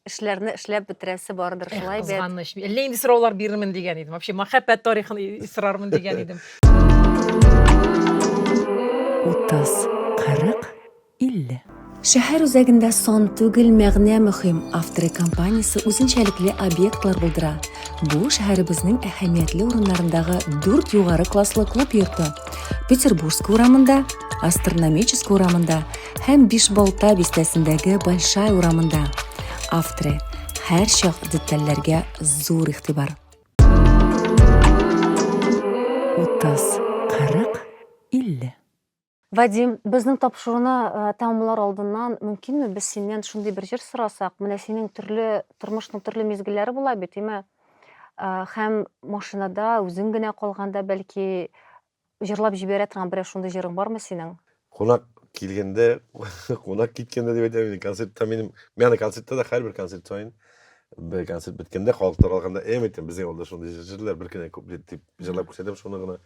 C: эшләрне эшләп бетерәсе бардыр шулай бит. Кызганыч. Әллә инде сораулар
B: бирермен дигән идем. Вообще мәхәббәт тарихын сорармын дигән идем. 30,
F: 40 50. Шәһәр
C: үзәгендә сан түгел мәгънә мөһим авторы компаниясе үзенчәлекле объектлар булдыра. Бу, шәһәребезнең әһәмиятле урыннарындагы дүрт югары класслы клуб йорты, Петербургская урамында, Астрономическая урамында һәм Бишбалта бистәсендәге Большая урамында. Авторы, һәрчак детальләргә зур игътибар.
F: 30, 40, 50. Вадим,
C: безнең тапшыруны э, тәмамлар алдыннан мөмкинме без синнән шундый бер җыр сорасак? Менә синең төрле тормышның төрле мизгелләре була бит, әйме? Э, һәм машинада үзең генә калганда бәлки җырлап җибәрә торган берәр шундый җырың бармы синең? Кунак
A: килгәндә, кунак киткәндә дип әйтәм, концертта минем, ягъни концертта да һәрбер концерт саен бер концерт беткәндә, халык таралганда, әйм әйтәм, безнең авылда шундый җыр җырлыйлар, бер кенә куплет дип җырлап күрсәтәм, шуны гына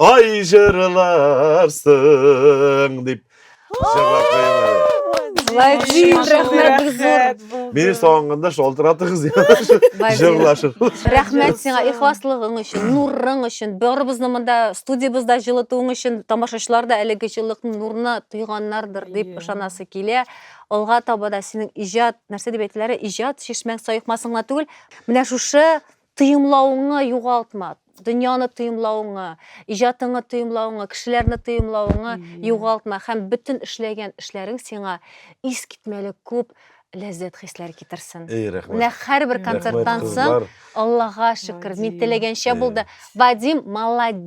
A: Ай җырларсың дип җырлап куйган. Лайк Зин,
C: рәхмәт зур. Мине сагынганда
A: шалтыратыгыз җырлашып. Рәхмәт
C: сиңа ихласлыгың өчен, нурың өчен, барыбызны монда студиябызда җылытуың өчен тамашачылар да әлеге җылылыкны, нурны тойганнардыр дип ышанасы килә. Алга таба да синең иҗат, нәрсә дип әйтеләре, иҗат чишмәң саекмасын гына түгел, менә шушы Тоемлавыңны югалтма, дөньяны тоемлавыңны, иҗатыңны тоемлавыңны, кешеләрне тоемлавыңны югалтма һәм бөтен эшләгән эшләрең сиңа искитмәле күп ләззәт хисләр китерсен. Эй, рәхмәт. Менә һәрбер
A: концерттан
C: соң Аллага шөкер, мин теләгәнчә булды. Вадим, молодец!